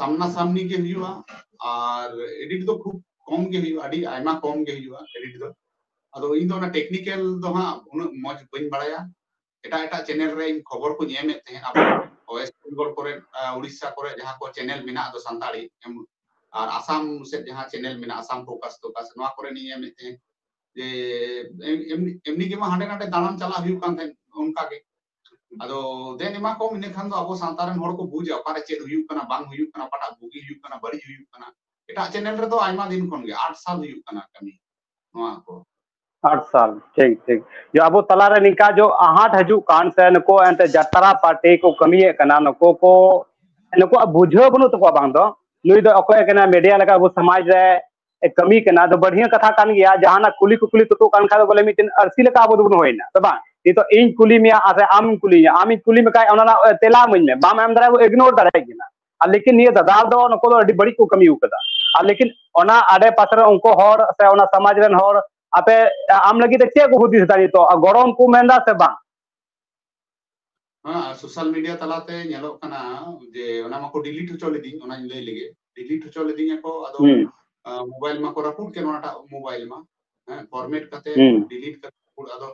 ᱥᱟᱢᱱᱟ ᱥᱟᱢᱱᱤ ᱜᱮ ᱦᱩᱭᱩᱜᱼᱟ ᱟᱨ ᱮᱰᱤᱴ ᱫᱚ ᱠᱷᱩᱵ ᱠᱚᱢ ᱜᱮ ᱦᱩᱭᱩᱜᱼᱟ ᱟᱹᱰᱤ ᱟᱭᱢᱟ ᱠᱚᱢ ᱜᱮ ᱦᱩᱭᱩᱜᱼᱟ ᱮᱰᱤᱴ ᱫᱚ ᱟᱫᱚ ᱤᱧ ᱫᱚ ᱚᱱᱟ ᱴᱮᱠᱱᱤᱠᱮᱞ ᱫᱚ ᱦᱟᱸᱜ ᱩᱱᱟᱹᱜ ᱢᱚᱡᱽ ᱵᱟᱹᱧ ᱵᱟᱲᱟᱭᱟ ᱮᱴᱟᱜ ᱮᱴᱟᱜ ᱪᱮᱱᱮᱞ ᱨᱮ ᱤᱧ ᱠᱷᱚᱵᱚᱨ ᱠᱚᱧ ᱮᱢᱮᱫ ᱛᱟᱦᱮᱸᱫ ᱟᱵᱚ ᱣᱮᱥᱴ ᱵᱮᱝᱜᱚᱞ ᱠᱚᱨᱮ ᱩᱲᱤᱥᱥᱟ ᱠᱚᱨᱮ ᱡᱟᱦᱟᱸ ᱠᱚ ᱪᱮᱱᱮᱞ ᱢᱮᱱᱟᱜ ᱫᱚ ᱥᱟᱱᱛᱟᱲᱤ ᱟᱨ ᱟᱥᱟᱢ ᱥᱮᱫ ᱡᱟᱦᱟᱸ ᱪᱮᱱᱮᱞ ᱢᱮᱱᱟᱜ ᱟᱥᱟᱢ ᱯᱷᱳᱠᱟᱥ ᱛᱳᱠᱟᱥ ᱱᱚᱣᱟ ᱠᱚᱨᱮ ᱤᱧ ᱮᱢᱮᱫ ᱛᱟᱦᱮᱸᱫ ᱡᱮ ᱮᱢᱱᱤ ᱜᱮᱢᱟ ᱦᱟᱸᱰᱮ ᱱᱟᱰᱮ ᱫᱟᱬᱟᱱ ᱪᱟᱞᱟᱜ ᱦᱩᱭᱩᱜ ᱠᱟᱱ ᱛᱟᱦᱮᱸᱫ ᱚᱱᱠᱟᱜᱮ ᱟᱫᱚ ᱫᱮᱱ ᱮᱢᱟ ᱠᱚᱢ ᱤᱱᱟᱹ ᱠᱷᱟᱱ ᱫᱚ ᱟᱵᱚ ᱥᱟᱶᱛᱟ ᱨᱮᱱ ᱦᱚᱲ ᱠᱚ ᱵᱩᱡᱟ ᱚᱠᱟᱨᱮ ᱪᱮᱫ ᱦᱩᱭᱩᱜ ᱠᱟᱱᱟ ᱵᱟᱝ ᱦᱩᱭᱩᱜ ᱠᱟᱱᱟ ᱚᱠᱟᱴᱟᱜ ᱵᱩᱜᱤ ᱦᱩᱭᱩᱜ ᱠᱟᱱᱟ ᱵᱟᱹᱲᱤᱡ ᱦᱩᱭᱩᱜ ᱠᱟᱱᱟ ᱮᱴᱟᱜ ᱪᱮᱱᱮᱞ ᱨᱮᱫᱚ ᱟᱭᱢᱟ ᱫᱤᱱ ᱠᱷᱚᱱ ᱜᱮ ᱟᱴ ᱥᱟᱞ ᱦᱩᱭᱩᱜ ᱠᱟᱱᱟ ᱠᱟᱹᱢᱤ ᱱᱚᱣᱟ ᱠᱚ ᱟᱴ ᱥᱟᱞ ᱴᱷᱤᱠ ᱴᱷᱤᱠ ᱡᱮ ᱟᱵᱚ ᱛᱟᱞᱟᱨᱮ ᱱᱤᱝᱠᱟ ᱡᱚ ᱟᱦᱟᱴ ᱦᱤᱡᱩᱜ ᱠᱟᱱ ᱥᱮ ᱱᱩᱠᱩ ᱮᱱᱛᱮ ᱡᱟᱛᱨᱟ ᱯᱟᱨᱴᱤ ᱠᱚ ᱠᱟᱹᱢᱤᱭᱮᱫ ᱠᱟᱱᱟ ᱱᱩᱠᱩ ᱠᱚ ᱱᱩᱠᱩᱣᱟᱜ ᱵᱩᱡᱷᱟᱹᱣ ᱵᱟᱹᱱᱩᱜ ᱛᱟᱠᱚᱣᱟ ᱵᱟᱝ ᱫᱚ ᱱᱩᱭ ᱫᱚ ᱚᱠᱚᱭ ᱠᱟᱱᱟ ᱢᱤᱰᱤᱭᱟ ᱞᱮᱠᱟ ᱟᱵᱚ ᱥᱚᱢᱟᱡᱽ ᱨᱮ ᱠᱟᱹᱢᱤ ᱠᱟᱱᱟ ᱫᱚ ᱵᱟᱹᱲᱦᱤᱭᱟᱹ ᱠᱟᱛᱷᱟ ᱠᱟᱱ ᱜᱮᱭᱟ ᱡᱟᱦᱟᱱᱟᱜ ᱠᱩᱞᱤ ᱠᱩᱠᱞᱤ ᱛᱩᱛᱩᱜ ᱠᱟᱱ ᱠᱷᱟᱱ ᱵᱚᱞᱮ ᱢᱤᱫᱴᱮᱱ ᱟᱹᱨᱥᱤ ᱞᱮᱠᱟ ᱟᱵᱚ ᱫᱚᱵᱚᱱ ᱦᱩᱭᱱᱟ ᱥᱮ ᱵᱟᱝ ᱱᱤᱛᱚᱜ ᱤᱧ ᱠᱩᱞᱤ ᱢᱮᱭᱟ ᱟᱨ ᱟᱢ ᱠᱩᱞᱤᱧᱟ ᱟᱢᱤᱧ ᱠᱩᱞᱤ ᱢᱮᱠᱷᱟᱡ ᱚᱱᱟ ᱨᱮᱱᱟᱜ ᱛᱮᱞᱟ ᱤᱢᱟᱹᱧ ᱢᱮ ᱵᱟᱢ ᱮᱢ ᱫᱟᱲᱮᱭᱟᱜᱼᱟ ᱤᱜᱱᱳᱨ ᱫᱟᱲᱮᱭᱟᱜ ᱠᱟᱱᱟ ᱟᱨ ᱞᱮᱠᱤᱱ ᱱᱤᱭᱟᱹ ᱫᱟᱫᱟ ᱫᱚ ᱱᱩᱠᱩ ᱫᱚ ᱟᱹᱰᱤ ᱵᱟᱹᱲᱤᱡ ᱠᱚ ᱠᱟᱹᱢᱤ ᱟᱠᱟᱫᱟ ᱟᱨ ᱞᱮᱠᱤᱱ ᱚᱱᱟ ᱟᱰᱮ ᱯᱟᱥᱮ ᱨᱮ ᱩᱱᱠᱩ ᱦᱚᱲ ᱥᱮ ᱚᱱᱟ ᱥᱚᱢᱟᱡᱽ ᱨᱮᱱ ᱦᱚᱲ ᱟᱯᱮ ᱟᱢ ᱞᱟᱹᱜᱤᱫ ᱛᱮ ᱪᱮᱫ ᱠᱚ ᱦᱩᱫᱤᱥ ᱮᱫᱟ ᱱᱤᱛᱚᱜ ᱜᱚᱲᱚᱢ ᱠᱚ ᱢᱮᱱᱫᱟ ᱥᱮ ᱵᱟᱝ ᱦᱮᱸ ᱥᱳᱥᱟᱞ ᱢᱤᱰᱤᱭᱟ ᱛᱟᱞᱟᱛᱮ ᱧᱮᱞᱚᱜ ᱠᱟᱱᱟ ᱡᱮ ᱚᱱᱟ ᱢᱟᱠᱚ ᱰᱤᱞᱤᱴ ᱦᱚᱪᱚ ᱞᱤᱫᱤᱧ ᱚᱱᱟᱧ ᱞᱟᱹᱭ ᱞᱮᱜᱮ ᱰᱤᱞᱤᱴ ᱦᱚᱪᱚ ᱞᱤᱫᱤᱧᱟ ᱠᱚ ᱟᱫᱚ ᱢᱳᱵᱟᱭᱤᱞ ᱢᱟᱠᱚ ᱨᱟᱹᱯᱩᱫ ᱠᱮᱫ ᱚᱱᱟᱴᱟᱜ ᱢᱳᱵᱟᱭᱤᱞ ᱢᱟ ᱦᱮᱸ ᱯᱷᱚᱨᱢᱮᱴ ᱠᱟᱛᱮ ᱰᱤᱞᱤᱴ ᱠᱟᱛᱮ ᱟᱫᱚ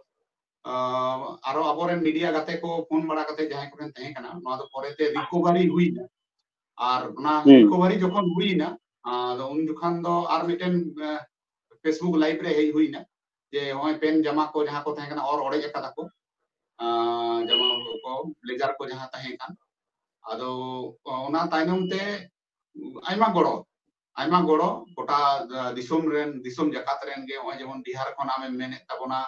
ᱟᱨᱚ ᱟᱵᱚᱨᱮᱱ ᱢᱤᱰᱤᱭᱟ ᱜᱟᱛᱮ ᱠᱚ ᱯᱷᱳᱱ ᱵᱟᱲᱟ ᱠᱟᱛᱮ ᱡᱟᱦᱟᱸᱭ ᱠᱚᱨᱮᱱ ᱛᱟᱦᱮᱸ ᱠᱟᱱᱟ ᱱᱚᱣᱟ ᱫᱚ ᱯᱚᱨᱮᱛᱮ ᱨᱤᱠᱚᱵᱷᱟᱨᱤ ᱦᱩᱭᱱᱟ ᱟᱨ ᱚᱱᱟ ᱨᱤᱠᱚᱵᱷᱟᱨᱤ ᱡᱚᱠᱷᱚᱱ ᱦᱩᱭᱱᱟ ᱟᱫᱚ ᱩᱱ ᱡᱚᱠᱷᱟᱱ ᱫᱚ ᱟᱨ ᱢᱤᱫᱴᱮᱱ ᱯᱷᱮᱥᱵᱩᱠ ᱞᱟᱭᱤᱵ ᱨᱮ ᱦᱮᱡ ᱦᱩᱭᱱᱟ ᱡᱮ ᱦᱚᱸᱜᱼᱚᱭ ᱯᱮᱱ ᱡᱟᱢᱟ ᱠᱚ ᱡᱟᱦᱟᱸ ᱠᱚ ᱛᱟᱦᱮᱸ ᱠᱟᱱᱟ ᱚᱨ ᱚᱲᱮᱡ ᱟᱠᱟᱫᱟ ᱠᱚ ᱡᱟᱢᱟ ᱠᱚ ᱵᱞᱮᱡᱟᱨ ᱠᱚ ᱡᱟᱦᱟᱸ ᱛᱟᱦᱮᱸ ᱠᱟᱱ ᱟᱫᱚ ᱚᱱᱟ ᱛᱟᱭᱱᱚᱢ ᱛᱮ ᱟᱭᱢᱟ ᱜᱚᱲᱚ ᱟᱭᱢᱟ ᱜᱚᱲᱚ ᱜᱚᱴᱟ ᱫᱤᱥᱚᱢ ᱨᱮᱱ ᱫᱤᱥᱚᱢ ᱡᱟᱠᱟᱛ ᱨᱮᱱ ᱜᱮ ᱱᱚᱜᱼᱚᱭ ᱡᱮᱢᱚᱱ ᱵᱤᱦᱟᱨ ᱠᱷᱚᱱ ᱟᱢᱮᱢ ᱢᱮᱱᱮᱫ ᱛᱟᱵᱚᱱᱟ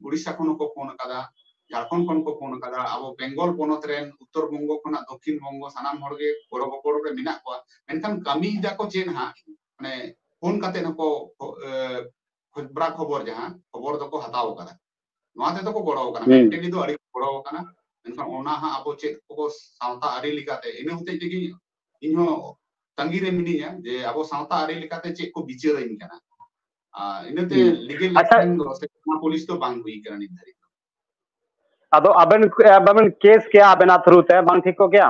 ᱩᱲᱤᱥᱥᱟ ᱠᱷᱚᱱ ᱦᱚᱸᱠᱚ ᱯᱷᱳᱱ ᱟᱠᱟᱫᱟ ᱡᱷᱟᱲᱠᱷᱚᱸᱰ ᱠᱷᱚᱱ ᱠᱚ ᱯᱷᱳᱱ ᱟᱠᱟᱫᱟ ᱟᱵᱚ ᱵᱮᱝᱜᱚᱞ ᱯᱚᱱᱚᱛ ᱨᱮᱱ ᱩᱛᱛᱚᱨ ᱵᱚᱝᱜᱚ ᱠᱷᱚᱱᱟᱜ ᱫᱚᱠᱷᱤᱱ ᱵᱚᱝᱜᱚ ᱥᱟᱱᱟᱢ ᱦᱚᱲ ᱜᱮ ᱜᱚᱲᱚ ᱜᱚᱯᱚᱲᱚ ᱨᱮ ᱢᱮᱱᱟᱜ ᱠᱚᱣᱟ ᱢᱮᱱᱠᱷᱟᱱ ᱠᱟᱹᱢᱤᱭᱮᱫᱟ ᱠᱚ ᱪᱮᱫ ᱦᱟᱸᱜ ᱢᱟᱱᱮ ᱯᱷᱳᱱ ᱠᱟᱛᱮ ᱦᱚᱸᱠᱚ ᱠᱷᱚᱵᱨᱟ ᱠᱷᱚᱵᱚᱨ ᱡᱟᱦᱟᱸ ᱠᱷᱚᱵᱚᱨ ᱫᱚᱠᱚ ᱦᱟᱛᱟᱣ ᱠᱟᱫᱟ ᱱᱚᱣᱟ ᱛᱮᱫᱚ ᱠᱚ ᱜᱚᱲᱚ ᱠᱟᱱᱟ ᱢᱮᱱᱴᱟᱞᱤ ᱫᱚ ᱟᱹᱰᱤ ᱜᱚᱲᱚ ᱠᱟᱱᱟ ᱢᱮᱱᱠᱷᱟᱱ ᱚᱱᱟ ᱦᱟᱸᱜ ᱟᱵᱚ ᱪᱮᱫ ᱠᱚ ᱥᱟᱶᱛᱟ ᱟᱹᱨᱤ ᱞᱮᱠᱟᱛᱮ ᱤᱱᱟᱹ ᱦᱚᱛᱮᱡ ᱛᱮᱜᱮ ᱤᱧᱦᱚᱸ ᱛᱟᱺᱜᱤ ᱨᱮ ᱢᱤᱱᱟᱹᱧᱟ ᱡᱮ ᱟᱵᱚ ᱥᱟᱶᱛᱟ ᱟᱹᱨᱤ ᱞᱮᱠᱟᱛᱮ ᱪᱮᱫ ᱠᱚ ᱵᱤᱪᱟᱹᱨᱟᱹᱧ ᱠᱟᱱᱟ ᱤᱱᱟᱹᱛᱮ ᱞᱤᱜᱮᱞ ᱮᱠᱥᱮᱱ ᱫᱚ ᱥᱮ ᱯᱩᱞᱤᱥ ᱫᱚ ᱵᱟᱝ ᱦᱩᱭ ᱠᱟᱱᱟ ᱱᱤᱛ ᱫᱷᱟᱹᱨᱤᱡ ᱟᱫᱚ ᱟᱵᱮᱱ ᱟᱵᱮᱱ ᱠᱮᱥ ᱠᱮᱭᱟ ᱟᱵᱮᱱᱟᱜ ᱛᱷᱨᱩ ᱛᱮ ᱵᱟᱝ ᱴᱷᱤᱠ ᱠᱚᱜ ᱜᱮᱭᱟ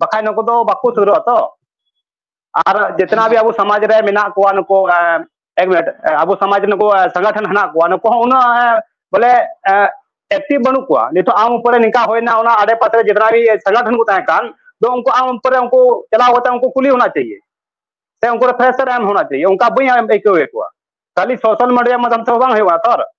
ᱵᱟᱠᱷᱟᱡ ᱱᱩᱠᱩ ᱫᱚ ᱵᱟᱠᱚ ᱥᱩᱨᱩᱜᱼᱟ ᱛᱚ ᱟᱨ ᱡᱮᱛᱱᱟ ᱵᱤ ᱟᱵᱚ ᱥᱚᱢᱟᱡᱽ ᱨᱮ ᱢᱮᱱᱟᱜ ᱠᱚᱣᱟ ᱱᱩᱠᱩ ᱮᱠ ᱢᱤᱱᱤᱴ ᱟᱵᱚ ᱥᱚᱢᱟᱡᱽ ᱱᱩᱠᱩ ᱥᱚᱝᱜᱚᱴᱷᱚᱱ ᱦᱮᱱᱟᱜ ᱠᱚᱣᱟ ᱱᱩᱠᱩ ᱦᱚᱸ ᱩᱱᱟᱹᱜ ᱵᱚᱞᱮ ᱮᱠᱴᱤᱵᱷ ᱵᱟᱹᱱᱩᱜ ᱠᱚᱣᱟ ᱱᱤᱛᱚᱜ ᱟᱢ ᱩᱯᱚᱨᱮ ᱱᱤᱝᱠᱟ ᱦᱩᱭᱱᱟ ᱚᱱᱟ ᱟᱰᱮ ᱯᱟᱥᱮ ᱨᱮ ᱡᱮᱛᱱᱟ ᱵᱤ ᱥᱚᱝᱜᱚᱴᱷᱚᱱ ᱠᱚ ᱛᱟᱦᱮᱸ ᱠᱟᱱ ᱫᱚ ᱩᱱᱠᱩ ᱟᱢ ᱩᱯᱚᱨᱮ ᱩᱱᱠᱩ ᱪᱟᱞᱟᱣ ᱠᱟᱛᱮ ᱩᱱᱠᱩ ᱠᱩᱞᱤ ᱦᱚᱱᱟ ᱪᱟᱦᱤᱭᱮ ᱥᱮ ᱩᱱᱠᱩ ᱨᱮ ᱯᱷᱮᱥᱟᱨ ᱮᱢ ᱦᱚᱱᱟ ᱪᱟᱦᱤᱭᱮ ᱚᱱᱠᱟ ᱵᱟᱹᱧ ᱟᱹᱭᱠᱟᱹᱣᱮᱫ ᱠᱚᱣᱟ ᱠᱷᱟᱹᱞᱤ ᱥᱳᱥᱟᱞ ᱢᱤᱰᱤᱭᱟ ᱢᱟᱫᱷᱚᱢ ᱛᱮ ᱵᱟᱝ ᱦᱩᱭᱩᱜᱼᱟ ᱛᱚ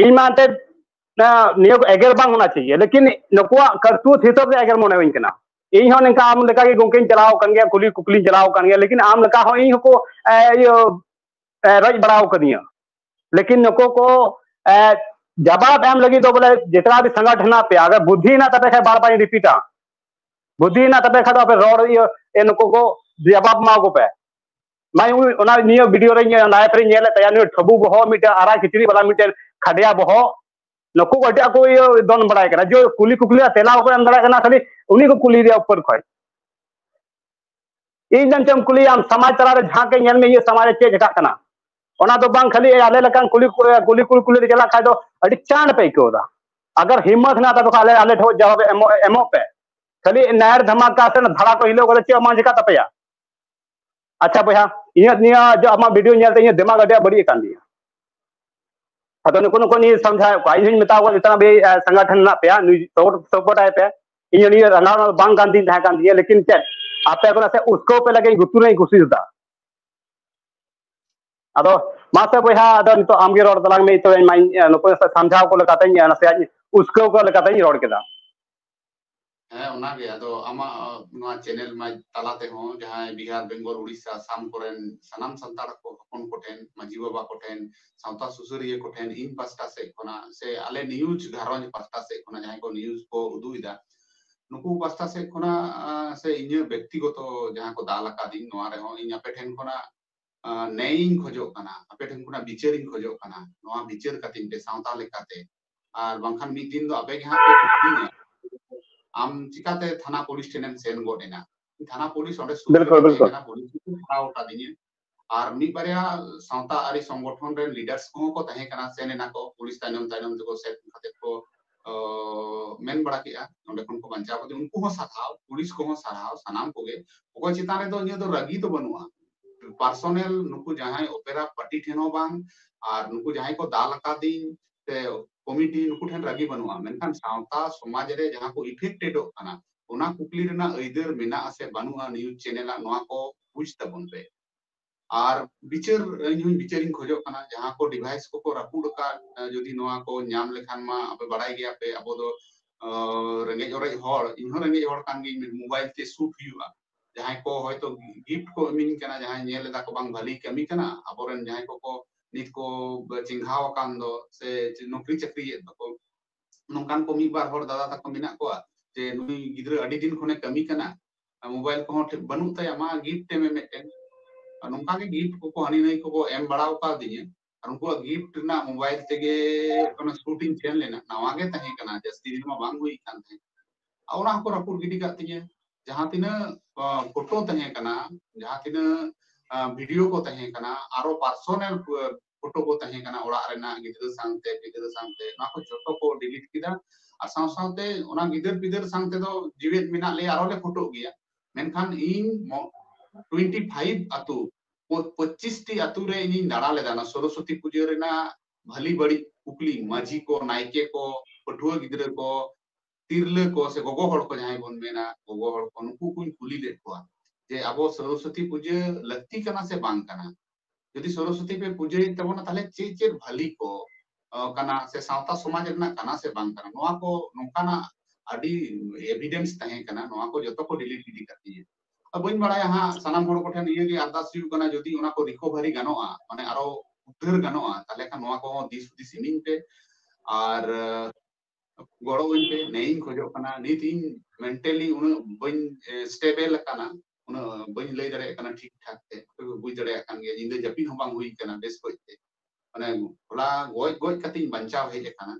ᱤᱧ ᱢᱟ ᱮᱱᱛᱮᱫ ᱱᱤᱭᱟᱹ ᱠᱚ ᱮᱜᱮᱨ ᱵᱟᱝ ᱦᱚᱱᱟ ᱪᱟᱦᱤᱭᱮ ᱞᱮᱠᱤᱱ ᱱᱩᱠᱩᱣᱟᱜ ᱠᱟᱨᱛᱩᱛ ᱦᱤᱥᱟᱹᱵ ᱛᱮ ᱮᱜᱮᱨ ᱢᱚᱱᱮ ᱦᱩᱭ ᱠᱟᱱᱟ ᱤᱧ ᱦᱚᱸ ᱱᱤᱝᱠᱟ ᱟᱢ ᱞᱮᱠᱟ ᱜᱮ ᱜᱚᱝᱠᱮᱧ ᱪᱟᱞᱟᱣ ᱠᱟᱱ ᱜᱮᱭᱟ ᱠᱩᱞᱤ ᱠᱩᱠᱞᱤᱧ ᱪᱟᱞᱟᱣ ᱠᱟᱱ ᱜᱮᱭᱟ ᱞᱮᱠᱤᱱ ᱟᱢ ᱞᱮᱠᱟ ᱦᱚᱸ ᱤᱧ ᱦᱚᱸᱠᱚ ᱤᱭᱟᱹ ᱨᱚᱡ ᱵᱟᱲᱟᱣ ᱠᱟᱹᱫᱤᱧᱟ ᱞᱮᱠᱤᱱ ᱱᱩᱠᱩ ᱠᱚ ᱡᱟᱵᱟᱵ ᱮᱢ ᱞᱟᱹᱜᱤᱫ ᱫᱚ ᱵᱚᱞᱮ ᱡᱮᱛᱱᱟ ᱵᱤ ᱥᱟᱸᱜᱟᱴ ᱦᱮᱱᱟᱜ ᱯᱮᱭᱟ ᱟᱜᱟᱨ ᱵᱩᱫᱷᱤ ᱦᱮᱱᱟᱜ ᱛᱟᱯᱮ ᱠᱷᱟᱱ ᱵᱟᱨ ᱵᱟᱨᱤᱧ ᱨᱤᱯᱤᱴᱟ ᱵᱩᱫᱷᱤ ᱦᱮᱱᱟᱜ ᱛᱟᱯᱮ ᱠᱷᱟᱱ ᱫᱚ ᱟᱯᱮ ᱨᱚᱲ ᱤᱭᱟᱹ ᱱᱩᱠᱩ ᱠᱚ ᱡᱟᱵᱟᱵ ᱮᱢᱟ ᱠᱚᱯᱮ ᱢᱟᱭ ᱚᱱᱟ ᱱᱤᱭᱟᱹ ᱵᱷᱤᱰᱤᱭᱳ ᱨᱮ ᱞᱟᱭᱤᱵᱷ ᱨᱮ ᱧᱮᱞᱮᱫ ᱛᱟᱭᱟ ᱱᱩᱭ ᱴᱷᱟᱹᱵᱩ ᱵᱚᱦᱚᱜ ᱢᱤᱫᱴᱮᱱ ᱟᱨᱟ ᱠᱤᱪᱨᱤᱡ ᱵᱟᱞᱟ ᱢᱤᱫᱴᱮᱱ ᱠᱷᱟᱰᱭᱟ ᱵᱚᱦᱚᱜ ᱱᱩᱠᱩ ᱠᱚ ᱮᱴᱟᱜ ᱠᱚ ᱤᱭᱟᱹ ᱫᱚᱱ ᱵᱟᱲᱟᱭ ᱠᱟᱱᱟ ᱡᱮ ᱠᱩᱞᱤ ᱠᱩᱠᱞᱤ ᱨᱮᱭᱟᱜ ᱛᱮᱞᱟ ᱵᱟᱠᱚ ᱮᱢ ᱫᱟᱲᱮᱭᱟᱜ ᱠᱟᱱᱟ ᱠᱷᱟᱹᱞᱤ ᱩᱱᱤ ᱠᱚ ᱠᱩᱞᱤ ᱨᱮᱭᱟᱜ ᱩᱯᱚᱨ ᱠᱷᱚᱡ ᱤᱧ ᱫᱚ ᱪᱮᱫ ᱮᱢ ᱠᱩᱞᱤᱭᱟ ᱟᱢ ᱥᱚᱢᱟᱡᱽ ᱛᱟᱞᱟ ᱨᱮ ᱡᱟᱦᱟᱸ ᱜᱮ ᱧᱮᱞ ᱢᱮ ᱤᱧᱟᱹᱜ ᱥᱚᱢᱟᱡᱽ ᱨᱮ ᱪᱮᱫ ᱪᱮᱠᱟᱜ ᱠᱟᱱᱟ ᱚᱱᱟ ᱫᱚ ᱵᱟᱝ ᱠᱷᱟᱹᱞᱤ ᱟᱞᱮ ᱞᱮᱠᱟᱱ ᱠᱩᱞᱤ ᱠᱩᱞᱤ ᱠᱩᱞ ᱠᱩᱞᱤ ᱨᱮ ᱪᱟᱞᱟᱜ ᱠᱷᱟᱡ ᱫᱚ ᱟᱹᱰᱤ ᱪᱟᱬ ᱯᱮ ᱟᱹᱭᱠᱟᱹᱣ ᱮᱫᱟ ᱟᱜᱟᱨ ᱦᱤᱢᱢᱚᱛ ᱦᱮᱱᱟᱜ ᱛᱟᱯᱮ ᱠᱷᱟᱡ ᱟᱞᱮ ᱟᱞᱮ ᱴᱷᱮᱱ ᱡᱟᱣᱟᱵ ᱮᱢᱚᱜ ᱮᱢᱚᱜ ᱯᱮ ᱠᱷᱟᱹᱞᱤ ᱱᱟᱭᱟᱨ ᱫᱷᱟᱢᱟᱠᱟ ᱥᱮ ᱫᱷᱟᱲᱟ ᱠᱚ ᱦᱤᱞᱟᱹᱣ ᱠᱟᱛᱮ ᱪᱮᱫ ᱵᱟᱝ ᱪᱮᱠᱟᱜ ᱛᱟᱯᱮᱭᱟ ᱟᱪᱪᱷᱟ ᱵᱚᱭᱦᱟ ᱤᱧᱟᱹᱜ ᱱᱤᱭᱟᱹ ᱡᱮ ᱟᱢᱟᱜ ᱵᱷᱤᱰᱤᱭᱳ ᱧᱮᱞᱛᱮ ᱤᱧᱟᱹᱜ ᱫᱮᱢᱟᱜᱽ ᱟᱹᱰᱤ ᱟᱸᱴ ᱵᱟᱹᱲᱤᱡ ᱟᱠᱟᱱ ᱛᱤᱧᱟᱹ ᱟᱫᱚ ᱱᱩᱠᱩ ᱱᱩᱠᱩ ᱱᱤᱭᱟᱹ ᱥᱚᱢᱡᱷᱟᱣᱮᱫ ᱠᱚᱣᱟ ᱤᱧ ᱦᱚᱧ ᱢᱮᱛᱟ ᱠᱚᱣᱟ ᱱᱤᱛᱚᱜ ᱵᱮ ᱥᱚᱝᱜᱚᱴᱷᱚᱱ ᱢᱮᱱᱟᱜ ᱯᱮᱭᱟ ᱱᱩᱭ ᱥᱚᱯᱚᱨᱴ ᱟᱭ ᱯᱮ ᱤᱧ ᱱᱤᱭᱟᱹ ᱨᱟᱸᱜᱟᱣ ᱨᱮ ᱵᱟᱝ ᱠᱟᱱ ᱛᱤᱧ ᱛᱟᱦᱮᱸ ᱠᱟᱱ ᱛᱤᱧᱟᱹ ᱞᱮᱠᱤᱱ ᱪᱮᱫ ᱟᱯᱮ ᱠᱚ ᱱᱟᱥᱮ ᱩᱥᱠᱟᱹᱣ ᱯᱮ ᱞᱟᱹᱜᱤᱫ ᱜᱩᱛᱩ ᱨᱮᱧ ᱠᱩᱥᱤᱥ ᱮᱫᱟ ᱟᱫᱚ ᱢᱟᱥᱮ ᱵᱚᱭᱦᱟ ᱟᱫᱚ ᱱᱤᱛᱚᱜ ᱟᱢᱜᱮ ᱨᱚᱲ ᱛᱟᱞᱟᱝ ᱢᱮ ᱛᱚᱵᱮ ᱤᱧ ᱱᱩᱠᱩ ᱥᱟᱢᱡᱷᱟᱣ ᱠᱚ ᱞᱮᱠᱟᱛᱮᱧ ᱱᱟᱥᱮᱭᱟᱜ ᱩᱥᱠᱟᱹᱣ ᱠᱚ ᱞᱮᱠᱟᱛᱮᱧ ᱨᱚᱲ ᱠᱮᱫᱟ ᱦᱮᱸ ᱚᱱᱟᱜᱮ ᱟᱫᱚ ᱟᱢᱟᱜ ᱱᱚᱣᱟ ᱪᱮᱱᱮᱞ ᱢᱟ ᱛᱟᱞᱟ ᱛᱮᱦᱚᱸ ᱡᱟᱦᱟᱸᱭ ᱵᱤᱦᱟᱨ ᱵᱮᱝᱜᱚᱞ ᱩᱲᱤᱥᱥᱟ ᱟᱥᱟᱢ ᱠᱚᱨᱮᱱ ᱥᱟᱱᱟᱢ ᱥᱟᱱᱛᱟᱲ ᱠᱚ ᱦᱚᱯᱚᱱ ᱠᱚᱴᱷᱮᱱ ᱢᱟᱹᱡᱷᱤ ᱵᱟᱵᱟ ᱠᱚᱴᱷᱮᱱ ᱥᱟᱶᱛᱟ ᱥᱩᱥᱟᱹᱨᱤᱭᱟᱹ ᱠᱚᱴᱷᱮᱱ ᱤᱧ ᱯᱟᱥᱴᱟ ᱥᱮᱫ ᱠᱷᱚᱱᱟᱜ ᱥᱮ ᱟᱞᱮ ᱱᱤᱭᱩᱡᱽ ᱜᱷᱟᱨᱚᱸᱡᱽ ᱯᱟᱥᱴᱟ ᱥᱮᱫ ᱠᱷᱚᱱᱟᱜ ᱡᱟᱦᱟᱸᱭ ᱠᱚ ᱱᱤᱭᱩᱡᱽ ᱠᱚ ᱩᱫᱩᱜ ᱮᱫᱟ ᱱᱩᱠᱩ ᱯᱟᱥᱴᱟ ᱥᱮᱫ ᱠᱷᱚᱱᱟᱜ ᱥᱮ ᱤᱧᱟᱹᱜ ᱵᱮᱠᱛᱤᱜᱚᱛᱚ ᱡᱟᱦᱟᱸ ᱠᱚ ᱫᱟᱞ ᱟᱠᱟᱫᱤᱧ ᱱᱚᱣᱟ ᱨᱮᱦᱚᱸ ᱤᱧ ᱟᱯᱮ ᱴᱷᱮᱱ ᱠᱷᱚᱱᱟᱜ ᱱᱮᱭᱤᱧ ᱠᱷᱚᱡᱚᱜ ᱠᱟᱱᱟ ᱟᱯᱮ ᱴᱷᱮᱱ ᱠᱷᱚᱱᱟᱜ ᱵᱤᱪᱟᱹᱨᱤᱧ ᱠᱷᱚᱡᱚᱜ ᱠᱟᱱᱟ ᱱᱚᱣᱟ ᱵᱤᱪᱟᱹᱨ ᱠᱟᱛᱤᱧ ᱯᱮ ᱥᱟᱶᱛᱟ ᱞᱮᱠᱟᱛᱮ ᱟᱨ ᱵᱟᱝᱠᱷᱟᱱ ᱢᱤᱫ ᱫᱤᱱ ᱫᱚ ᱟᱯᱮ ᱜᱮ ᱦᱟᱸᱜ ᱯᱮ ᱠᱩᱠᱞᱤᱧᱟ ᱟᱢ ᱪᱤᱠᱟᱛᱮ ᱛᱷᱟᱱᱟ ᱯᱩᱞᱤᱥ ᱴᱷᱮᱱᱮᱢ ᱥᱮᱱ ᱜᱚᱫ ᱮᱱᱟ ᱛᱷᱟᱱᱟ ᱯᱩᱞᱤᱥ ᱚᱸᱰᱮ ᱥᱩᱨ ᱨᱮ ᱛᱟᱦᱮᱸ ᱠᱟᱱᱟ ᱯᱩᱞᱤᱥ ᱠᱚ ᱦᱟᱨᱟᱣ ᱟᱠᱟᱫᱤᱧᱟ ᱟᱨ ᱢᱤᱫ ᱵᱟᱨᱭᱟ ᱥᱟᱶᱛᱟ ᱟᱹᱨᱤ ᱥᱚᱝᱜᱚᱴᱷᱚᱱ ᱨᱮᱱ ᱞᱤᱰᱟᱨᱥ ᱠᱚᱦᱚᱸ ᱠᱚ ᱛᱟᱦᱮᱸ ᱠᱟᱱᱟ ᱥᱮᱱ ᱮᱱᱟ ᱠᱚ ᱯᱩᱞᱤᱥ ᱛᱟᱭᱱᱚᱢ ᱛᱟᱭᱱᱚᱢ ᱛᱮᱠᱚ ᱥᱮᱱ ᱠᱟᱛᱮ ᱠᱚ ᱢᱮᱱ ᱵᱟᱲᱟ ᱠᱮᱜᱼᱟ ᱱᱚᱰᱮ ᱠᱷᱚᱱ ᱠᱚ ᱵᱟᱧᱪᱟᱣ ᱠᱟᱛᱮ ᱩᱱᱠᱩ ᱦᱚᱸ ᱥᱟᱨᱦᱟᱣ ᱯᱩᱞᱤᱥ ᱠᱚᱦᱚᱸ ᱥᱟᱨᱦᱟᱣ ᱥᱟᱱᱟᱢ ᱠᱚᱜᱮ ᱚᱠᱚᱭ ᱪᱮᱛᱟᱱ ᱨᱮᱫᱚ ᱤᱧᱟᱹᱜ ᱫᱚ ᱨᱟᱹᱜᱤ ᱫᱚ ᱵᱟᱹᱱᱩᱜᱼᱟ ᱯᱟᱨᱥᱚᱱᱟᱞ ᱱᱩᱠᱩ ᱡᱟᱦᱟᱸᱭ ᱚᱯᱮᱨᱟ ᱯᱟᱨᱴᱤ ᱴᱷᱮᱱ ᱦᱚᱸ ᱵᱟᱝ ᱟᱨ ᱱᱩᱠᱩ ᱡᱟᱦᱟᱸᱭ ᱠᱚ ᱫᱟᱞ ᱟᱠᱟᱫᱤᱧ ᱥᱮ ᱠᱚᱢᱤᱴᱤ ᱱᱩᱠᱩ ᱴᱷᱮᱱ ᱨᱟᱹᱜᱤ ᱵᱟᱹᱱᱩᱜᱼᱟ ᱢᱮᱱᱠᱷᱟᱱ ᱥᱟᱶᱛᱟ ᱥᱚᱢᱟᱡᱽ ᱨᱮ ᱡᱟᱦᱟᱸ ᱠᱚ ᱤᱯᱷᱮᱠᱴᱮᱰᱚᱜ ᱠᱟᱱᱟ ᱚᱱᱟ ᱠᱩᱠᱞᱤ ᱨᱮᱱᱟᱜ ᱟᱹᱭᱫᱟᱹᱨ ᱢᱮᱱᱟᱜᱼᱟ ᱥᱮ ᱵᱟᱹᱱᱩᱜᱼᱟ ᱱᱤᱭᱩᱡᱽ ᱪᱮᱱᱮᱞᱟᱜ ᱱᱚᱣᱟ ᱠᱚ ᱵᱩᱡᱽ ᱛᱟᱵᱚᱱ ᱯᱮ ᱟᱨ ᱵᱤᱪᱟᱹᱨ ᱤᱧ ᱦᱚᱸ ᱵᱤᱪᱟᱹᱨᱤᱧ ᱠᱷᱚᱡᱚᱜ ᱠᱟᱱᱟ ᱡᱟᱦᱟᱸ ᱠᱚ ᱰᱤᱵᱷᱟᱭᱤᱥ ᱠᱚᱠᱚ ᱨᱟᱹᱯᱩᱫ ᱟᱠᱟᱫ ᱡᱩᱫᱤ ᱱᱚᱣᱟ ᱠᱚ ᱧᱟᱢ ᱞᱮᱠᱷᱟᱱ ᱢᱟ ᱟᱯᱮ ᱵᱟᱲᱟᱭ ᱜᱮᱭᱟ ᱯᱮ ᱟᱵᱚ ᱫᱚ ᱨᱮᱸᱜᱮᱡ ᱚᱨᱮᱡ ᱦᱚᱲ ᱤᱧ ᱦᱚᱸ ᱨᱮᱸᱜᱮᱡ ᱦᱚᱲ ᱠᱟᱱ ᱜᱤᱧ ᱢᱳᱵᱟᱭᱤᱞ ᱛᱮ ᱥᱩᱴ ᱦᱩᱭᱩᱜᱼᱟ ᱡᱟᱦᱟᱸᱭ ᱠᱚ ᱦᱚᱭᱛᱚ ᱜᱤᱯᱷᱴ ᱠᱚ ᱮᱢᱤᱧ ᱠᱟᱱᱟ ᱡᱟᱦᱟᱸᱭ ᱧᱮᱞ ᱮᱫᱟ ᱠᱚ ᱵᱟᱝ ᱵᱷᱟᱹᱞᱤ ᱠᱟᱹᱢᱤ ᱠᱟᱱᱟ ᱟᱵᱚᱨᱮᱱ ᱡᱟᱦᱟᱸᱭ ᱠᱚᱠᱚ ᱱᱤᱛ ᱠᱚ ᱪᱮᱸᱜᱷᱟᱣ ᱟᱠᱟᱱ ᱫᱚ ᱥᱮ ᱱᱚᱠᱨᱤ ᱪᱟᱹᱠᱨᱤᱭᱮᱫ ᱫᱚᱠᱚ ᱱᱚᱝᱠᱟᱱ ᱠᱚ ᱢᱤᱫ ᱵᱟᱨ ᱦᱚᱲ ᱫᱟᱫᱟ ᱛᱟᱠᱚ ᱢᱮᱱᱟᱜ ᱠᱚᱣᱟ ᱡᱮ ᱱᱩᱭ ᱜᱤᱫᱽᱨᱟᱹ ᱟᱹᱰᱤ ᱫᱤᱱ ᱠᱷᱚᱱᱮ ᱠᱟᱹᱢᱤ ᱠᱟᱱᱟ ᱢᱳᱵᱟᱭᱤᱞ ᱠᱚᱦᱚᱸ ᱴᱷᱤᱠ ᱵᱟᱹᱱᱩᱜ ᱛᱟᱭᱟ ᱢᱟ ᱜᱤᱯᱷᱴ ᱮᱢᱮ ᱢᱤᱫᱴᱮᱱ ᱱᱚᱝᱠᱟᱜᱮ ᱜᱤᱯᱷᱴ ᱠᱚᱠᱚ ᱦᱟᱹᱱᱤ ᱱᱟᱹᱭ ᱠᱚᱠᱚ ᱮᱢ ᱵᱟᱲᱟᱣ ᱠᱟᱣᱫᱤᱧᱟ ᱟᱨ ᱩᱱᱠᱩᱣᱟᱜ ᱜᱤᱯᱷᱴ ᱨᱮᱱᱟᱜ ᱢᱳᱵᱟᱭᱤᱞ ᱛᱮᱜᱮ ᱚᱱᱟ ᱥᱩᱴᱤᱝ ᱥᱮᱱ ᱞᱮᱱᱟ ᱱᱟᱣᱟ ᱜᱮ ᱛᱟᱦᱮᱸ ᱠᱟᱱᱟ ᱡᱟᱹᱥᱛᱤ ᱫᱤᱱ ᱢᱟ ᱵᱟᱝ ᱦᱩᱭ ᱠᱟᱱ ᱛᱟᱦᱮᱸ ᱟᱨ ᱚᱱᱟ ᱦᱚᱸᱠᱚ ᱨᱟᱹᱯᱩᱫ ᱜᱤᱰᱤ ᱠᱟᱜ ᱛᱤᱧᱟᱹ ᱡᱟᱦᱟᱸ ᱛᱤᱱᱟᱹᱜ ᱯᱷᱳᱴᱳ ᱛᱟᱦᱮᱸ ᱠᱟᱱᱟ ᱡᱟᱦᱟᱸ ᱛᱤᱱᱟᱹᱜ ᱵᱷᱤᱰᱤᱭᱳ ᱠᱚ ᱛᱟᱦᱮᱸ ᱠᱟᱱᱟ ᱟᱨᱚ ᱯᱟᱨᱥᱚᱱᱟᱞ ᱯᱷᱳᱴᱳ ᱠᱚ ᱛᱟᱦᱮᱸ ᱠᱟᱱᱟ ᱚᱲᱟᱜ ᱨᱮᱱᱟᱜ ᱜᱤᱫᱽᱨᱟᱹ ᱥᱟᱶᱛᱮ ᱯᱤᱫᱽᱨᱟᱹ ᱥᱟᱶᱛᱮ ᱚᱱᱟ ᱠᱚ ᱡᱚᱛᱚ ᱠᱚ ᱰᱤᱞᱤᱴ ᱠᱮᱫᱟ ᱟᱨ ᱥᱟᱶ ᱥᱟᱶᱛᱮ ᱚᱱᱟ ᱜᱤᱫᱟᱹᱨ ᱯᱤᱫᱟᱹᱨ ᱥᱟᱶ ᱛᱮᱫᱚ ᱡᱤᱣᱮᱫ ᱢᱮᱱᱟᱜ ᱞᱮᱭᱟ ᱟᱨᱚ ᱞᱮ ᱯᱷᱳᱴᱳᱜ ᱜᱮᱭᱟ ᱢᱮᱱᱠᱷᱟᱱ ᱤᱧ ᱴᱩᱭᱮᱱᱴᱤ ᱯᱷᱟᱭᱤᱵᱷ ᱟᱛᱳ ᱯᱚᱸᱪᱤᱥ ᱴᱤ ᱟᱛᱳ ᱨᱮ ᱤᱧᱤᱧ ᱫᱟᱬᱟ ᱞᱮᱫᱟ ᱚᱱᱟ ᱥᱚᱨᱚᱥᱚᱛᱤ ᱯᱩᱡᱟᱹ ᱨᱮᱱᱟᱜ ᱵᱷᱟᱹᱞᱤ ᱵᱟᱹᱲᱤᱡ ᱠᱩᱠᱞᱤ ᱢᱟᱹᱡᱷᱤ ᱠᱚ ᱱᱟᱭᱠᱮ ᱠᱚ ᱯᱟᱹᱴᱷᱩᱣᱟᱹ ᱜᱤᱫᱽᱨᱟᱹ ᱠᱚ ᱛᱤᱨᱞᱟᱹ ᱠᱚ ᱥᱮ ᱜᱚᱜᱚ ᱦᱚᱲ ᱠᱚ ᱡᱟᱦᱟᱸᱭ ᱵᱚᱱ ᱢᱮᱱᱟ ᱜᱚᱜᱚ ᱦᱚᱲ ᱠᱚ ᱱᱩᱠᱩ ᱠᱚᱧ ᱠᱩᱞᱤ ᱞᱮᱫ ᱠᱚᱣᱟ ᱡᱮ ᱟᱵᱚ ᱥᱚᱨᱚᱥᱚᱛᱤ ᱯᱩᱡᱟᱹ ᱞᱟᱹᱠᱛᱤ ᱠᱟᱱᱟ ᱥᱮ ᱵᱟᱝ ᱠᱟᱱᱟ ᱡᱩᱫᱤ ᱥᱚᱨᱚᱥᱚᱛᱤ ᱯᱮ ᱯᱩᱡᱟᱹᱭᱮᱫ ᱛᱟᱵᱚᱱᱟ ᱛᱟᱦᱞᱮ ᱪᱮᱫ ᱪᱮᱫ ᱵᱷᱟᱹᱞᱤ ᱠᱚ ᱠᱟᱱᱟ ᱥᱮ ᱥᱟᱶᱛᱟ ᱥᱚᱢᱟᱡᱽ ᱨᱮᱱᱟᱜ ᱠᱟᱱᱟ ᱥᱮ ᱵᱟᱝ ᱠᱟᱱᱟ ᱱᱚᱣᱟ ᱠᱚ ᱱᱚᱝᱠᱟᱱᱟᱜ ᱟᱹᱰᱤ ᱮᱵᱷᱤᱰᱮᱱᱥ ᱛᱟᱦᱮᱸ ᱠᱟᱱᱟ ᱱᱚᱣᱟ ᱠᱚ ᱡᱚᱛᱚ ᱠᱚ ᱰᱤᱞᱤᱴ ᱜᱤᱰᱤ ᱠᱟᱜ ᱛᱤᱧᱟᱹ ᱵᱟᱹᱧ ᱵᱟᱲᱟᱭᱟ ᱦᱟᱸᱜ ᱥᱟᱱᱟᱢ ᱦᱚᱲ ᱠᱚᱴᱷᱮᱱ ᱱᱤᱭᱟᱹ ᱜᱮ ᱟᱨᱫᱟᱥ ᱦᱩᱭᱩᱜ ᱠᱟᱱᱟ ᱡᱩᱫᱤ ᱚᱱᱟ ᱠᱚ ᱨᱤᱠᱚᱵᱷᱟᱨᱤ ᱜᱟᱱᱚᱜᱼᱟ ᱢᱟᱱᱮ ᱟᱨᱚ ᱩᱫᱷᱟᱹᱨ ᱜᱟᱱᱚᱜᱼᱟ ᱛᱟᱦᱚᱞᱮ ᱠᱷᱟᱱ ᱱᱚᱣᱟ ᱠᱚᱦᱚᱸ ᱫᱤᱥ ᱦᱩᱫᱤᱥ ᱤᱢᱤᱧ ᱯᱮ ᱟᱨ ᱜᱚᱲᱚ ᱟᱹᱧ ᱯᱮ ᱱᱮᱭᱤᱧ ᱠᱷᱚᱡᱚᱜ ᱠᱟᱱᱟ ᱱᱤᱛ ᱤᱧ ᱢᱮᱱᱴᱟᱞᱤ ᱩᱱᱟᱹᱜ ᱵᱟᱹᱧ ᱥᱴᱮᱵᱮᱞ ᱟᱠᱟᱱᱟ ᱩᱱᱟᱹᱜ ᱵᱟᱹᱧ ᱞᱟᱹᱭ ᱫᱟᱲᱮᱭᱟᱜ ᱠᱟᱱᱟ ᱴᱷᱤᱠ ᱴᱷᱟᱠ ᱛᱮ ᱟᱯᱮ ᱯᱮ ᱵᱩᱡᱽ ᱫᱟᱲᱮᱭᱟᱜ ᱠᱟᱱ ᱜᱮᱭᱟ ᱧᱤᱫᱟᱹ ᱡᱟᱹᱯᱤᱫ ᱦᱚᱸ ᱵᱟᱝ ᱦᱩᱭ ᱠᱟᱱᱟ ᱵᱮᱥ ᱠᱚᱡ ᱛᱮ ᱢᱟᱱᱮ ᱦᱚᱞᱟ ᱜᱚᱡ ᱜᱚᱡ ᱠᱟᱛᱮᱧ ᱵᱟᱧᱪᱟᱣ ᱦᱮᱡ ᱟᱠᱟᱱᱟ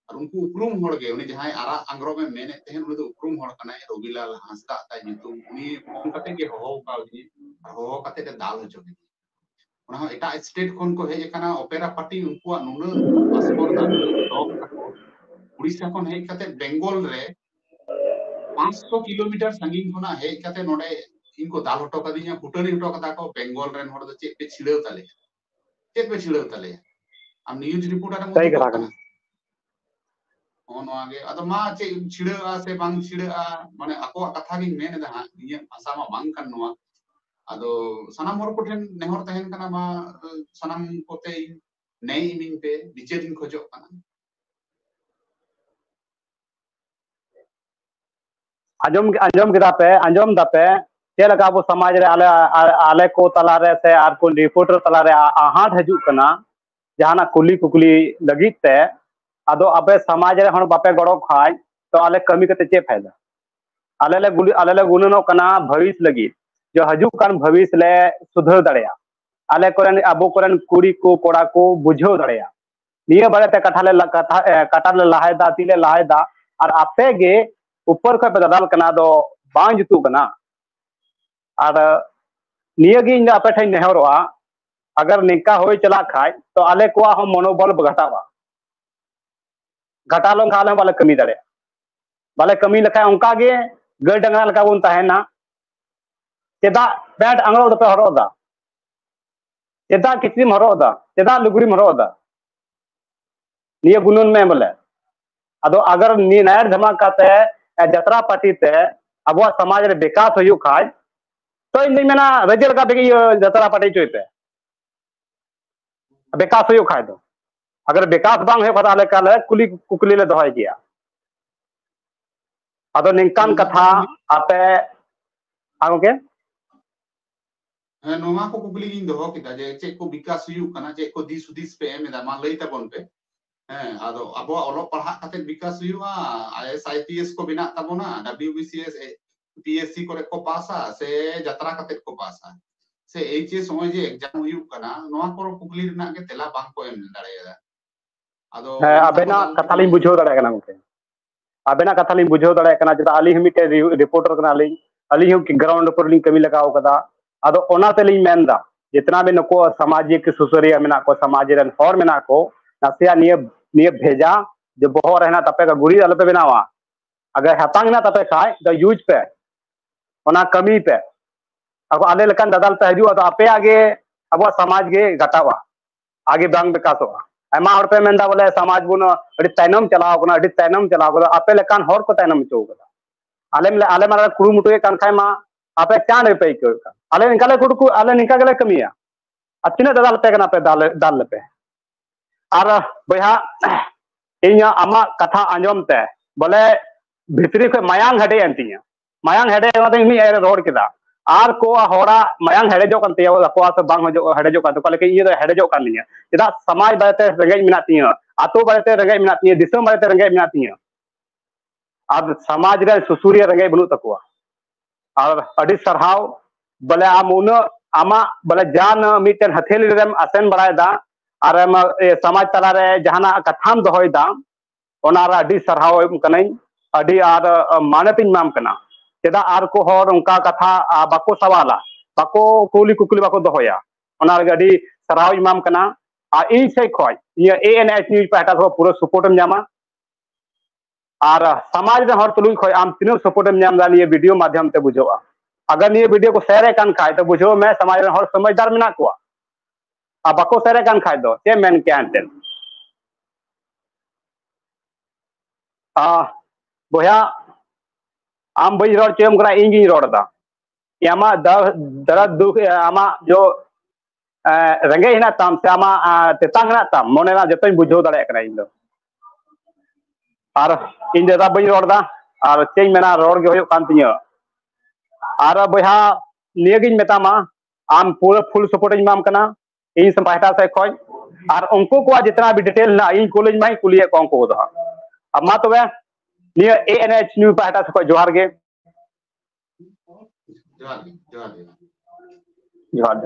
ᱟᱨ ᱩᱱᱠᱩ ᱩᱯᱨᱩᱢ ᱦᱚᱲ ᱜᱮ ᱩᱱᱤ ᱡᱟᱦᱟᱸᱭ ᱟᱨᱟᱜ ᱟᱝᱜᱽᱨᱚᱵ ᱮ ᱢᱮᱱᱮᱫ ᱛᱟᱦᱮᱸᱫ ᱩᱱᱤ ᱫᱚ ᱩᱯᱨᱩᱢ ᱦᱚᱲ ᱠᱟᱱᱟᱭ ᱨᱚᱵᱤᱞᱟᱞ ᱦᱟᱸᱥᱫᱟ ᱛᱟᱭ ᱧᱩᱛᱩᱢ ᱩᱱᱤ ᱯᱷᱳᱱ ᱠᱟᱛᱮ ᱜᱮ ᱦᱚᱦᱚ ᱠᱟᱣᱫᱤᱧ ᱦᱚᱦᱚ ᱠᱟᱛᱮ ᱮ ᱫᱟᱞ ᱦᱚᱪᱚ ᱠᱮᱫᱤᱧ ᱚᱱᱟ ᱦᱚᱸ ᱮᱴᱟᱜ ᱥᱴᱮᱴ ᱠᱷᱚᱱ ᱠᱚ ᱦᱮᱡ ᱟᱠᱟᱱᱟ ᱚᱯᱮᱨᱟ ᱯᱟᱨᱴᱤ ᱩᱱᱠᱩᱣᱟᱜ ᱱᱩᱱᱟᱹᱜ ᱯᱟᱥᱯᱚᱨ ᱫᱟᱜ ᱱᱩᱱᱟᱹᱜ ᱰᱚᱜ ᱛᱟᱠᱚ ᱩᱲᱤᱥᱥᱟ ᱠᱷᱚᱱ ᱦᱮᱡ ᱠᱟᱛᱮ ᱵᱮᱝᱜᱚᱞ ᱨᱮ 500 ᱠᱤᱞᱳᱢᱤᱴᱟᱨ ᱥᱟᱺᱜᱤᱧ ᱠᱷᱚᱱᱟᱜ ᱦᱮᱡ ᱠᱟᱛᱮ ᱱᱚᱰᱮ ᱤᱧ ᱠᱚ ᱫᱟᱞ ᱦᱚᱴᱚ ᱠᱟᱫᱤᱧᱟ ᱠᱩᱴᱟᱹᱱᱤ ᱦᱚᱴᱚ ᱠᱟᱫᱟ ᱠᱚ ᱵᱮᱝᱜᱚᱞ ᱨᱮᱱ ᱦᱚᱲ ᱫᱚ ᱪᱮᱫ ᱯᱮ ᱪᱷᱤᱲᱟᱹᱣ ᱛᱟᱞᱮᱭᱟ ᱪᱮᱫ ᱯᱮ ᱪᱷᱤᱲᱟᱹᱣ ᱛᱟᱞᱮᱭᱟ ᱟᱢ ᱱᱤᱭᱩᱡᱽ ᱨᱤᱯᱳᱨᱴᱟᱨ ᱮᱢ ᱥᱟᱹᱨᱤ ᱠᱟᱛᱷᱟ ᱠᱟᱱᱟ ᱱᱚᱜᱼᱚ ᱱᱚᱣᱟ ᱜᱮ ᱟᱫᱚ ᱢᱟ ᱪᱮᱫ ᱪᱷᱤᱲᱟᱹᱜᱼᱟ ᱥᱮ ᱵᱟᱝ ᱪᱷᱤᱲᱟᱹᱜᱼᱟ ᱢᱟᱱᱮ ᱟᱠᱚᱣᱟᱜ ᱠᱟᱛᱷᱟ ᱜᱤᱧ ᱢᱮᱱ ᱮᱫᱟ ᱦᱟᱸᱜ ᱤᱧᱟᱹᱜ ᱵᱷᱟᱥᱟ ᱢᱟ ᱵᱟᱝ ᱠᱟᱱ ᱱᱚᱣᱟ ᱟᱫᱚ ᱥᱟᱱᱟᱢ ᱦᱚᱲ ᱠᱚᱴᱷᱮᱱ ᱱᱮᱦᱚᱨ ᱛᱟᱦᱮᱱ ᱠᱟᱱᱟ ᱢᱟ ᱥᱟᱱᱟᱢ ᱠᱚᱛᱮ ᱤᱧ ᱱᱮᱭ ᱤᱢᱤᱧ ᱯᱮ ᱵᱤᱪᱟᱹᱨ ᱤᱧ ᱠᱷᱚᱡᱚᱜ ᱠᱟᱱᱟ ᱟᱸᱡᱚᱢ ᱟᱸᱡᱚᱢ ᱠᱮᱫᱟ ᱯᱮ ᱟᱸᱡᱚᱢ ᱫᱟᱯᱮ ᱪᱮᱫ ᱞᱮᱠᱟ ᱟᱵᱚ ᱥᱚᱢᱟᱡᱽ ᱨᱮ ᱟᱞᱮ ᱟᱞᱮ ᱠᱚ ᱛᱟᱞᱟᱨᱮ ᱥᱮ ᱟᱨ ᱠᱚ ᱨᱤᱯᱳᱨᱴᱟᱨ ᱛᱟᱞᱟᱨᱮ ᱟᱦᱟᱸᱴ ᱦᱤᱡᱩᱜ ᱠᱟᱱᱟ ᱡᱟᱦᱟᱱᱟᱜ ᱠᱩᱞᱤ ᱠᱩᱠᱞᱤ ᱞᱟᱹᱜᱤᱫ ᱛᱮ ᱟᱫᱚ ᱟᱯᱮ ᱥᱚᱢᱟᱡᱽ ᱨᱮ ᱦᱚᱲ ᱵᱟᱯᱮ ᱜᱚᱲᱚ ᱠᱷᱟᱡ ᱛᱚ ᱟᱞᱮ ᱠᱟᱹᱢᱤ ᱠᱟᱛᱮ ᱪᱮᱫ ᱯᱷᱟᱭᱫᱟ ᱟᱞᱮ ᱞᱮ ᱜᱩᱞᱤ ᱟᱞᱮ ᱞᱮ ᱜᱩᱱᱟᱹᱱᱚᱜ ᱠᱟᱱᱟ ᱵᱷᱟᱹᱵᱤᱥ ᱞᱟᱹᱜᱤᱫ ᱡᱮ ᱦᱤᱡᱩᱜ ᱠᱟᱱ ᱵᱷᱟᱹᱵᱤᱥ ᱞᱮ ᱥᱩᱫᱷᱟᱹᱨ ᱫᱟᱲᱮᱭᱟᱜᱼᱟ ᱟᱞᱮ ᱠᱚᱨᱮᱱ ᱟᱵᱚ ᱠᱚᱨᱮᱱ ᱠᱩᱲᱤ ᱠᱚ ᱠᱚᱲᱟ ᱠᱚ ᱵᱩᱡᱷᱟᱹᱣ ᱫᱟᱲᱮᱭᱟᱜᱼᱟ ᱱᱤᱭᱟᱹ ᱵᱟᱨᱮᱛᱮ ᱠᱟᱛᱷᱟ ᱞᱮ ᱠᱟᱛᱷᱟ ᱠᱟᱴᱟ ᱞᱮ ᱞᱟᱦᱟᱭᱮᱫᱟ ᱛᱤ ᱞᱮ ᱞᱟᱦᱟᱭᱮᱫᱟ ᱟᱨ ᱟᱯᱮ ᱜᱮ ᱩᱯᱚᱨ ᱠᱷᱚᱱ ᱯᱮ ᱫᱟᱫᱟᱞ ᱠᱟᱱᱟ ᱟᱫᱚ ᱵᱟᱝ ᱡᱩᱛᱩᱜ ᱠᱟᱱᱟ ᱟᱨ ᱱᱤᱭᱟᱹ ᱜᱮ ᱤᱧ ᱫᱚ ᱟᱯᱮ ᱴᱷᱮᱱ ᱱᱮᱦᱚᱨᱚᱜᱼᱟ ᱟᱜᱟᱨ ᱱᱤᱝᱠᱟ ᱦᱩᱭ ᱪᱟᱞᱟᱜ ᱠᱷᱟᱡ ᱛᱚ ᱟᱞᱮ ᱠᱚᱣᱟᱜ ᱦᱚᱸ ᱢᱚᱱᱳᱵᱚᱞ ᱜᱷᱟᱴᱟᱜᱼᱟ ᱜᱷᱟᱴᱟᱣ ᱞᱮᱱᱠᱷᱟᱱ ᱟᱞᱮ ᱦᱚᱸ ᱵᱟᱞᱮ ᱠᱟᱹᱢᱤ ᱫᱟᱲᱮᱭᱟᱜᱼᱟ ᱵᱟᱞᱮ ᱠᱟᱹᱢᱤ ᱞᱮᱠᱷᱟᱡ ᱚᱱᱠᱟ ᱜᱮ ᱜᱟᱹᱭ ᱰᱟᱝᱨᱟ ᱞᱮᱠᱟ ᱵᱚᱱ ᱛᱟᱦᱮᱱᱟ ᱪᱮᱫᱟᱜ ᱯᱮᱱᱴ ᱟᱝᱨᱚᱵ ᱫᱚᱯᱮ ᱦᱚᱨᱚᱜ ᱮᱫᱟ ᱪᱮᱫᱟᱜ ᱠᱤᱪᱨᱤᱢ ᱦᱚᱨᱚᱜ ᱮᱫᱟ ᱪᱮᱫᱟᱜ ᱞᱩᱜᱽᱲᱤᱢ ᱦᱚᱨᱚᱜ ᱮᱫᱟ ᱱᱤᱭᱟᱹ ᱜᱩᱱᱟᱹᱱ ᱢᱮ ᱵᱚᱞᱮ ᱟᱫᱚ ᱟᱜᱟᱨ ᱱᱤᱭᱟᱹ ᱱᱟᱭᱟᱨ ᱫᱷᱟᱢᱟᱠ ᱠᱟᱛᱮ ᱡᱟᱛᱨᱟ ᱯᱟᱨᱴᱤ ᱛᱮ ᱟᱵᱚᱣᱟᱜ ᱥᱚᱢᱟᱡᱽ ᱨᱮ ᱵᱤᱠᱟᱥ ᱦᱩᱭᱩᱜ ᱠᱷᱟᱡ ᱛᱚ ᱤᱧ ᱫᱩᱧ ᱢᱮᱱᱟ ᱨᱟᱹᱡᱤ ᱞᱮᱠᱟ ᱛᱮᱜᱮ ᱤᱭᱟᱹ ᱡᱟᱛᱨᱟ ᱯᱟᱨᱴᱤ ᱦᱚᱪᱚᱭ ᱯᱮ ᱵᱤᱠᱟᱥ ᱦᱩᱭᱩᱜ ᱠᱷᱟᱡ ᱫᱚ ᱟᱜᱟᱨ ᱵᱤᱠᱟᱥ ᱵᱟᱝ ᱦᱩᱭᱩᱜ ᱠᱷᱟᱡ ᱟᱞᱮ ᱠᱟᱞᱮ ᱠᱩᱞᱤ ᱠᱩᱠᱞᱤ ᱞᱮ ᱫᱚᱦᱚᱭ ᱜᱮᱭᱟ ᱟᱫᱚ ᱱᱤᱝᱠᱟᱱ ᱠᱟᱛᱷᱟ ᱟᱯᱮ ᱟᱜᱚᱜᱮ ᱱᱚᱣᱟ ᱠᱚ ᱠᱩᱠᱞᱤ ᱜᱤᱧ ᱫᱚᱦᱚ ᱠᱮᱫᱟ ᱡᱮ ᱪᱮᱫ ᱠᱚ ᱵᱤᱠᱟᱥ ᱦᱩᱭᱩᱜ ᱠᱟᱱᱟ ᱪᱮᱫ ᱠᱚ ᱫᱤᱥ ᱦᱩᱫᱤᱥ ᱯᱮ ᱮᱢ ᱮᱫᱟ ᱢᱟ ᱞᱟᱹᱭ ᱛᱟᱵᱚᱱ ᱯᱮ ᱦᱮᱸ ᱟᱫᱚ ᱟᱵᱚᱣᱟᱜ ᱚᱞᱚᱜ ᱯᱟᱲᱦᱟᱜ ᱠᱟᱛᱮ ᱵᱤᱠᱟᱥ ᱦᱩᱭᱩᱜᱼᱟ ᱟᱭᱮᱥ ᱟᱭᱯᱤᱮᱥ ᱠᱚ ᱵᱮᱱᱟᱜ ᱛᱟᱵᱚᱱᱟ ᱰᱟᱵᱞᱤᱭᱩ ᱵᱤᱥᱤᱮᱥ ᱯᱤᱮᱥᱥᱤ ᱠᱚᱨᱮ ᱠᱚ ᱯᱟᱥᱟ ᱥᱮ ᱡᱟᱛᱨᱟ ᱠᱟᱛᱮ ᱠᱚ ᱯᱟᱥᱟ ᱥᱮ ᱮᱭᱤᱪ ᱮᱥ ᱱᱚᱜᱼᱚᱭ ᱡᱮ ᱮᱠᱡᱟᱢ ᱦᱩᱭᱩᱜ ᱠᱟᱱᱟ ᱱᱚᱣᱟ ᱠᱚ ᱠᱩᱠᱞᱤ ᱨᱮᱱᱟᱜ ᱜᱮ ᱛᱮᱞᱟ ᱵᱟᱝ ᱠᱚ ᱮᱢ ᱫᱟᱲᱮᱭᱟᱫᱟ ᱟᱫᱚ ᱟᱵᱮᱱᱟᱜ ᱠᱟᱛᱷᱟ ᱞᱤᱧ ᱵᱩᱡᱷᱟᱹᱣ ᱫᱟᱲᱮᱭᱟᱜ ᱠᱟᱱᱟ ᱜᱚᱝᱠᱮ ᱟᱵᱮᱱᱟᱜ ᱠᱟᱛᱷᱟ ᱞᱤᱧ ᱵᱩᱡᱷᱟᱹᱣ ᱫᱟᱲᱮᱭᱟᱜ ᱠᱟᱱᱟ ᱪᱮᱫᱟᱜ ᱟᱹᱞᱤᱧ ᱦᱚᱸ ᱢᱤᱫᱴᱮᱱ ᱨᱤᱯᱳᱨᱴᱟᱨ ᱠᱟᱱᱟᱞᱤᱧ ᱟᱹᱞᱤᱧ ᱦᱚᱸ ᱜᱨᱟᱣᱩᱱᱰ ᱩᱯᱚᱨ ᱞᱤᱧ ᱠᱟᱹᱢᱤ ᱞᱟᱜᱟᱣ ᱠᱟᱫᱟ ᱟᱫᱚ ᱚᱱᱟ ᱛᱮᱞᱤᱧ ᱢᱮᱱᱫᱟ ᱡᱮᱛᱱᱟ ᱵᱮᱱ ᱱᱩᱠᱩ ᱥᱟᱢᱟᱡᱤᱠ ᱥᱩᱥᱟᱹᱨᱤᱭᱟᱹ ᱢᱮᱱᱟᱜ ᱠᱚ ᱥᱟᱢᱟᱡᱽ ᱨᱮᱱ ᱦᱚᱲ ᱢᱮᱱᱟᱜ ᱠᱚ ᱱᱟᱥᱮᱭᱟᱜ ᱱᱤᱭᱟᱹ ᱱᱤᱭᱟᱹ ᱵᱷᱮᱡᱟ ᱡᱮ ᱵᱚᱦᱚᱜ ᱨᱮ ᱦᱮᱱᱟᱜ ᱛᱟᱯᱮ ᱜᱩᱨᱤᱡ ᱟᱞᱚᱯᱮ ᱵᱮᱱᱟᱣᱟ ᱟᱜᱟᱨ ᱦᱟᱛᱟᱝ ᱦᱮᱱᱟᱜ ᱛᱟᱯᱮ ᱠᱷᱟᱡ ᱫᱚ ᱤᱭᱩᱡᱽ ᱯᱮ ᱚᱱᱟ ᱠᱟᱹᱢᱤ ᱯᱮ ᱟᱵᱚ ᱟᱞᱮ ᱞᱮᱠᱟᱱ ᱫᱟᱫᱟᱞ ᱯᱮ ᱦᱤᱡᱩᱜᱼᱟ ᱟᱫᱚ ᱟᱯᱮᱭᱟᱜ ᱜᱮ ᱟᱵᱚᱣᱟᱜ ᱥᱟᱢᱟᱡᱽ ᱜᱮ ᱜᱷᱟᱴᱟᱣᱟ ᱟᱜᱮ ᱵᱟᱝ ᱵᱤᱠᱟᱥᱚᱜᱼᱟ ᱟᱭᱢᱟ ᱦᱚᱲ ᱯᱮ ᱢᱮᱱᱫᱟ ᱵᱚᱞᱮ ᱥᱚᱢᱟᱡᱽ ᱵᱚᱱ ᱟᱹᱰᱤ ᱛᱟᱭᱱᱚᱢ ᱪᱟᱞᱟᱣ ᱠᱟᱱᱟ ᱟᱹᱰᱤ ᱛᱟᱭᱱᱚᱢ ᱪᱟᱞᱟᱣ ᱠᱟᱱᱟ ᱟᱯᱮ ᱞᱮᱠᱟᱱ ᱦᱚᱲ ᱠᱚ ᱛᱟᱭᱱᱚᱢ ᱦᱚᱪᱚ ᱠᱟᱫᱟ ᱟᱞᱮ ᱟᱞᱮ ᱢᱟ ᱠᱩᱨᱩᱢᱩᱴᱩᱭᱮᱫ ᱠᱟᱱ ᱠᱷᱟᱡ ᱢᱟ ᱟᱯᱮ ᱪᱟᱬ ᱨᱮᱯᱮ ᱟᱹᱭᱠᱟᱹᱣᱮᱫ ᱠᱟᱱ ᱟᱞᱮ ᱱᱤᱝᱠᱟ ᱞᱮ ᱠᱩᱴᱩᱠᱩ ᱟᱞᱮ ᱱᱤᱝᱠᱟ ᱜᱮᱞᱮ ᱠᱟᱹᱢᱤᱭᱟ ᱟᱨ ᱛᱤᱱᱟᱹᱜ ᱫᱟᱫᱟᱞ ᱯᱮ ᱠᱟᱱᱟ ᱯᱮ ᱫᱟᱞ ᱫᱟᱞ ᱞᱮᱯᱮ ᱟᱨ ᱵᱚᱭᱦᱟ ᱤᱧ ᱟᱢᱟᱜ ᱠᱟᱛᱷᱟ ᱟᱸᱡᱚᱢ ᱛᱮ ᱵᱚᱞᱮ ᱵᱷᱤᱛᱨᱤ ᱠᱷᱚᱡ ᱢᱟᱭᱟᱝ ᱦᱟᱹᱰᱮᱜ ᱮᱱ ᱛᱤᱧᱟ ᱢᱟᱭᱟᱝ ᱦᱮᱰᱮᱡ ᱚᱱᱟᱛᱮ ᱩᱱᱤ ᱟᱭᱟᱜ ᱨᱚᱲ ᱠᱮᱫᱟ ᱟᱨ ᱠᱚ ᱦᱚᱲᱟᱜ ᱢᱟᱭᱟᱝ ᱦᱮᱰᱮᱡᱚᱜ ᱠᱟᱱ ᱛᱟᱭᱟ ᱟᱠᱚᱣᱟᱜ ᱥᱮ ᱵᱟᱝ ᱦᱮᱰᱮᱡᱚᱜ ᱠᱟᱱ ᱛᱟᱠᱚᱣᱟ ᱞᱮᱠᱤᱱ ᱤᱧ ᱫᱚ ᱦᱮᱰᱮᱡᱚᱜ ᱠᱟᱱ ᱛᱤᱧᱟ ᱪᱮᱫᱟᱜ ᱥᱚᱢᱟᱡᱽ ᱵᱟᱨᱮᱛᱮ ᱨᱮᱸᱜᱮᱡ ᱢᱮᱱᱟᱜ ᱛᱤᱧᱟ ᱟᱛᱳ ᱵᱟᱨᱮᱛᱮ ᱨᱮᱸᱜᱮᱡ ᱢᱮᱱᱟᱜ ᱛᱤᱧᱟ ᱫᱤᱥᱚᱢ ᱵᱟᱨᱮᱛᱮ ᱨᱮᱸᱜᱮᱡ ᱢᱮᱱᱟᱜ ᱛᱤᱧᱟ ᱟᱨ ᱥᱚᱢᱟᱡᱽ ᱨᱮ ᱥᱩᱥᱩᱨᱤᱭᱟᱹ ᱨᱮᱸᱜᱮᱡ ᱵᱟᱹᱱᱩᱜ ᱛᱟᱠᱚᱣᱟ ᱟᱨ ᱟᱹᱰᱤ ᱥᱟᱨᱦᱟᱣ ᱵᱚᱞᱮ ᱟᱢ ᱩᱱᱟᱹᱜ ᱟᱢᱟᱜ ᱵᱚᱞᱮ ᱡᱟᱱ ᱢᱤᱫᱴᱮᱱ ᱦᱟᱹᱛᱷᱮᱞᱤ ᱨᱮᱢ ᱟᱥᱮᱱ ᱵᱟᱲᱟᱭᱮᱫᱟ ᱟᱨ ᱥᱚᱢᱟᱡᱽ ᱛᱟᱞᱟᱨᱮ ᱡᱟᱦᱟᱱᱟᱜ ᱠᱟᱛᱷᱟᱢ ᱫᱚᱦᱚᱭᱮᱫᱟ ᱚᱱᱟ ᱨᱮ ᱟᱹᱰᱤ ᱥᱟᱨᱦᱟᱣ ᱮᱢ ᱠᱟᱹᱱᱟᱹᱧ ᱟᱹᱰᱤ ᱟᱨ ᱢᱟᱱᱚᱛ ᱤᱧ ᱮᱢᱟᱢ ᱠᱟᱱᱟ ᱪᱮᱫᱟᱜ ᱟᱨ ᱠᱚ ᱦᱚᱲ ᱚᱱᱠᱟ ᱠᱟᱛᱷᱟ ᱵᱟᱠᱚ ᱥᱟᱣᱟᱞᱟ ᱵᱟᱠᱚ ᱠᱩᱞᱤ ᱠᱩᱠᱞᱤ ᱵᱟᱠᱚ ᱫᱚᱦᱚᱭᱟ ᱚᱱᱟ ᱨᱮᱜᱮ ᱟᱹᱰᱤ ᱥᱟᱨᱦᱟᱣ ᱤᱧ ᱮᱢᱟᱢ ᱠᱟᱱᱟ ᱟᱨ ᱤᱧ ᱥᱮᱡ ᱠᱷᱚᱡ ᱤᱧᱟᱹᱜ ᱮ ᱮᱱ ᱮᱪ ᱱᱤᱭᱩᱡᱽ ᱯᱟᱦᱴᱟ ᱠᱷᱚᱡ ᱯᱩᱨᱟᱹ ᱥᱟᱯᱳᱨᱴ ᱮᱢ ᱧᱟᱢᱟ ᱟᱨ ᱥᱟᱢᱟᱡᱽ ᱨᱮ ᱦᱚᱲ ᱛᱩᱞᱩᱡ ᱠᱷᱚᱡ ᱟᱢ ᱛᱤᱱᱟᱹᱜ ᱥᱟᱯᱳᱨᱴ ᱮᱢ ᱧᱟᱢ ᱮᱫᱟ ᱱᱤᱭᱟᱹ ᱵᱷᱤᱰᱤᱭᱳ ᱢᱟᱫᱽᱫᱷᱚᱢ ᱛᱮ ᱵᱩᱡᱷᱟᱹᱜᱼᱟ ᱟᱜᱟᱨ ᱱᱤᱭᱟᱹ ᱵᱷᱤᱰᱤᱭᱳ ᱠᱚ ᱥᱮᱭᱟᱨᱮᱫ ᱠᱟᱱ ᱠᱷᱟᱡ ᱛᱚ ᱵᱩᱡᱷᱟᱹᱣ ᱢᱮ ᱥᱟᱢᱟᱡᱽ ᱨᱮᱱ ᱦᱚᱲ ᱥᱚᱢᱚᱡᱽᱫᱟᱨ ᱢᱮᱱᱟᱜ ᱠᱚᱣᱟ ᱟᱨ ᱵᱟᱠᱚ ᱥᱮᱨᱮᱜ ᱠᱟᱱ ᱠᱷᱟᱡ ᱫᱚ ᱪᱮᱫ ᱢᱮᱱ ᱠᱮᱭᱟ ᱮᱱᱛᱮᱫ ᱵᱚᱭᱦᱟ ᱟᱢ ᱵᱟᱹᱧ ᱨᱚᱲ ᱦᱚᱪᱚᱭᱟᱢ ᱠᱟᱱᱟ ᱤᱧ ᱜᱤᱧ ᱨᱚᱲ ᱮᱫᱟ ᱟᱢᱟᱜ ᱫᱟᱨᱟᱫ ᱫᱩᱠ ᱟᱢᱟᱜ ᱡᱚ ᱨᱮᱸᱜᱮᱡ ᱦᱮᱱᱟᱜ ᱛᱟᱢ ᱥᱮ ᱟᱢᱟᱜ ᱛᱮᱛᱟᱝ ᱦᱮᱱᱟᱜ ᱛᱟᱢ ᱢᱚᱱᱮ ᱨᱮᱱᱟᱜ ᱡᱚᱛᱚᱧ ᱵᱩᱡᱷᱟᱹᱣ ᱫᱟᱲᱮᱭᱟᱜ ᱠᱟᱱᱟ ᱤᱧ ᱫᱚ ᱟᱨ ᱤᱧ ᱫᱟᱫᱟ ᱵᱟᱹᱧ ᱨᱚᱲ ᱮᱫᱟ ᱟᱨ ᱪᱮᱫ ᱤᱧ ᱢᱮᱱᱟ ᱨᱚᱲ ᱜᱮ ᱦᱩᱭᱩᱜ ᱠᱟᱱ ᱛᱤᱧᱟᱹ ᱟᱨ ᱵᱚᱭᱦᱟ ᱱᱤᱭᱟᱹᱜᱤᱧ ᱢᱮᱛᱟᱢᱟ ᱟᱢ ᱯᱩᱨᱟᱹ ᱯᱷᱩᱞ ᱥᱟᱯᱳᱨᱴ ᱤᱧ ᱮᱢᱟᱢ ᱠᱟᱱᱟ ᱤᱧ ᱥᱮ ᱯᱟᱦᱴᱟ ᱥᱮᱫ ᱠᱷᱚᱱ ᱟᱨ ᱩᱱᱠᱩ ᱠᱚᱣᱟᱜ ᱡᱮᱛᱱᱟ ᱵᱤ ᱰᱤᱴᱮᱞ ᱦᱮᱱᱟᱜ ᱤᱧ ᱠᱩᱞᱤᱧ ᱢᱟᱧ ᱠᱩᱞᱤᱭᱮᱫ ᱠᱚᱣᱟ ᱩᱱᱠᱩ ᱠᱚᱫᱚ ᱦᱟᱸᱜ ᱟᱨ ᱢᱟ ᱛᱚᱵᱮ ᱱᱤᱭᱟᱹ ᱮ ᱮᱱ ᱮᱪ ᱱᱤᱭᱩ ᱯᱟᱦᱴᱟ ᱥᱮᱫ ᱠᱷᱚᱱ ᱡᱚᱦᱟᱨ ᱜᱮ ᱡᱚᱦᱟᱨ ᱡᱚᱦᱟᱨ ᱡᱚᱦᱟᱨ ᱡᱚᱦᱟᱨ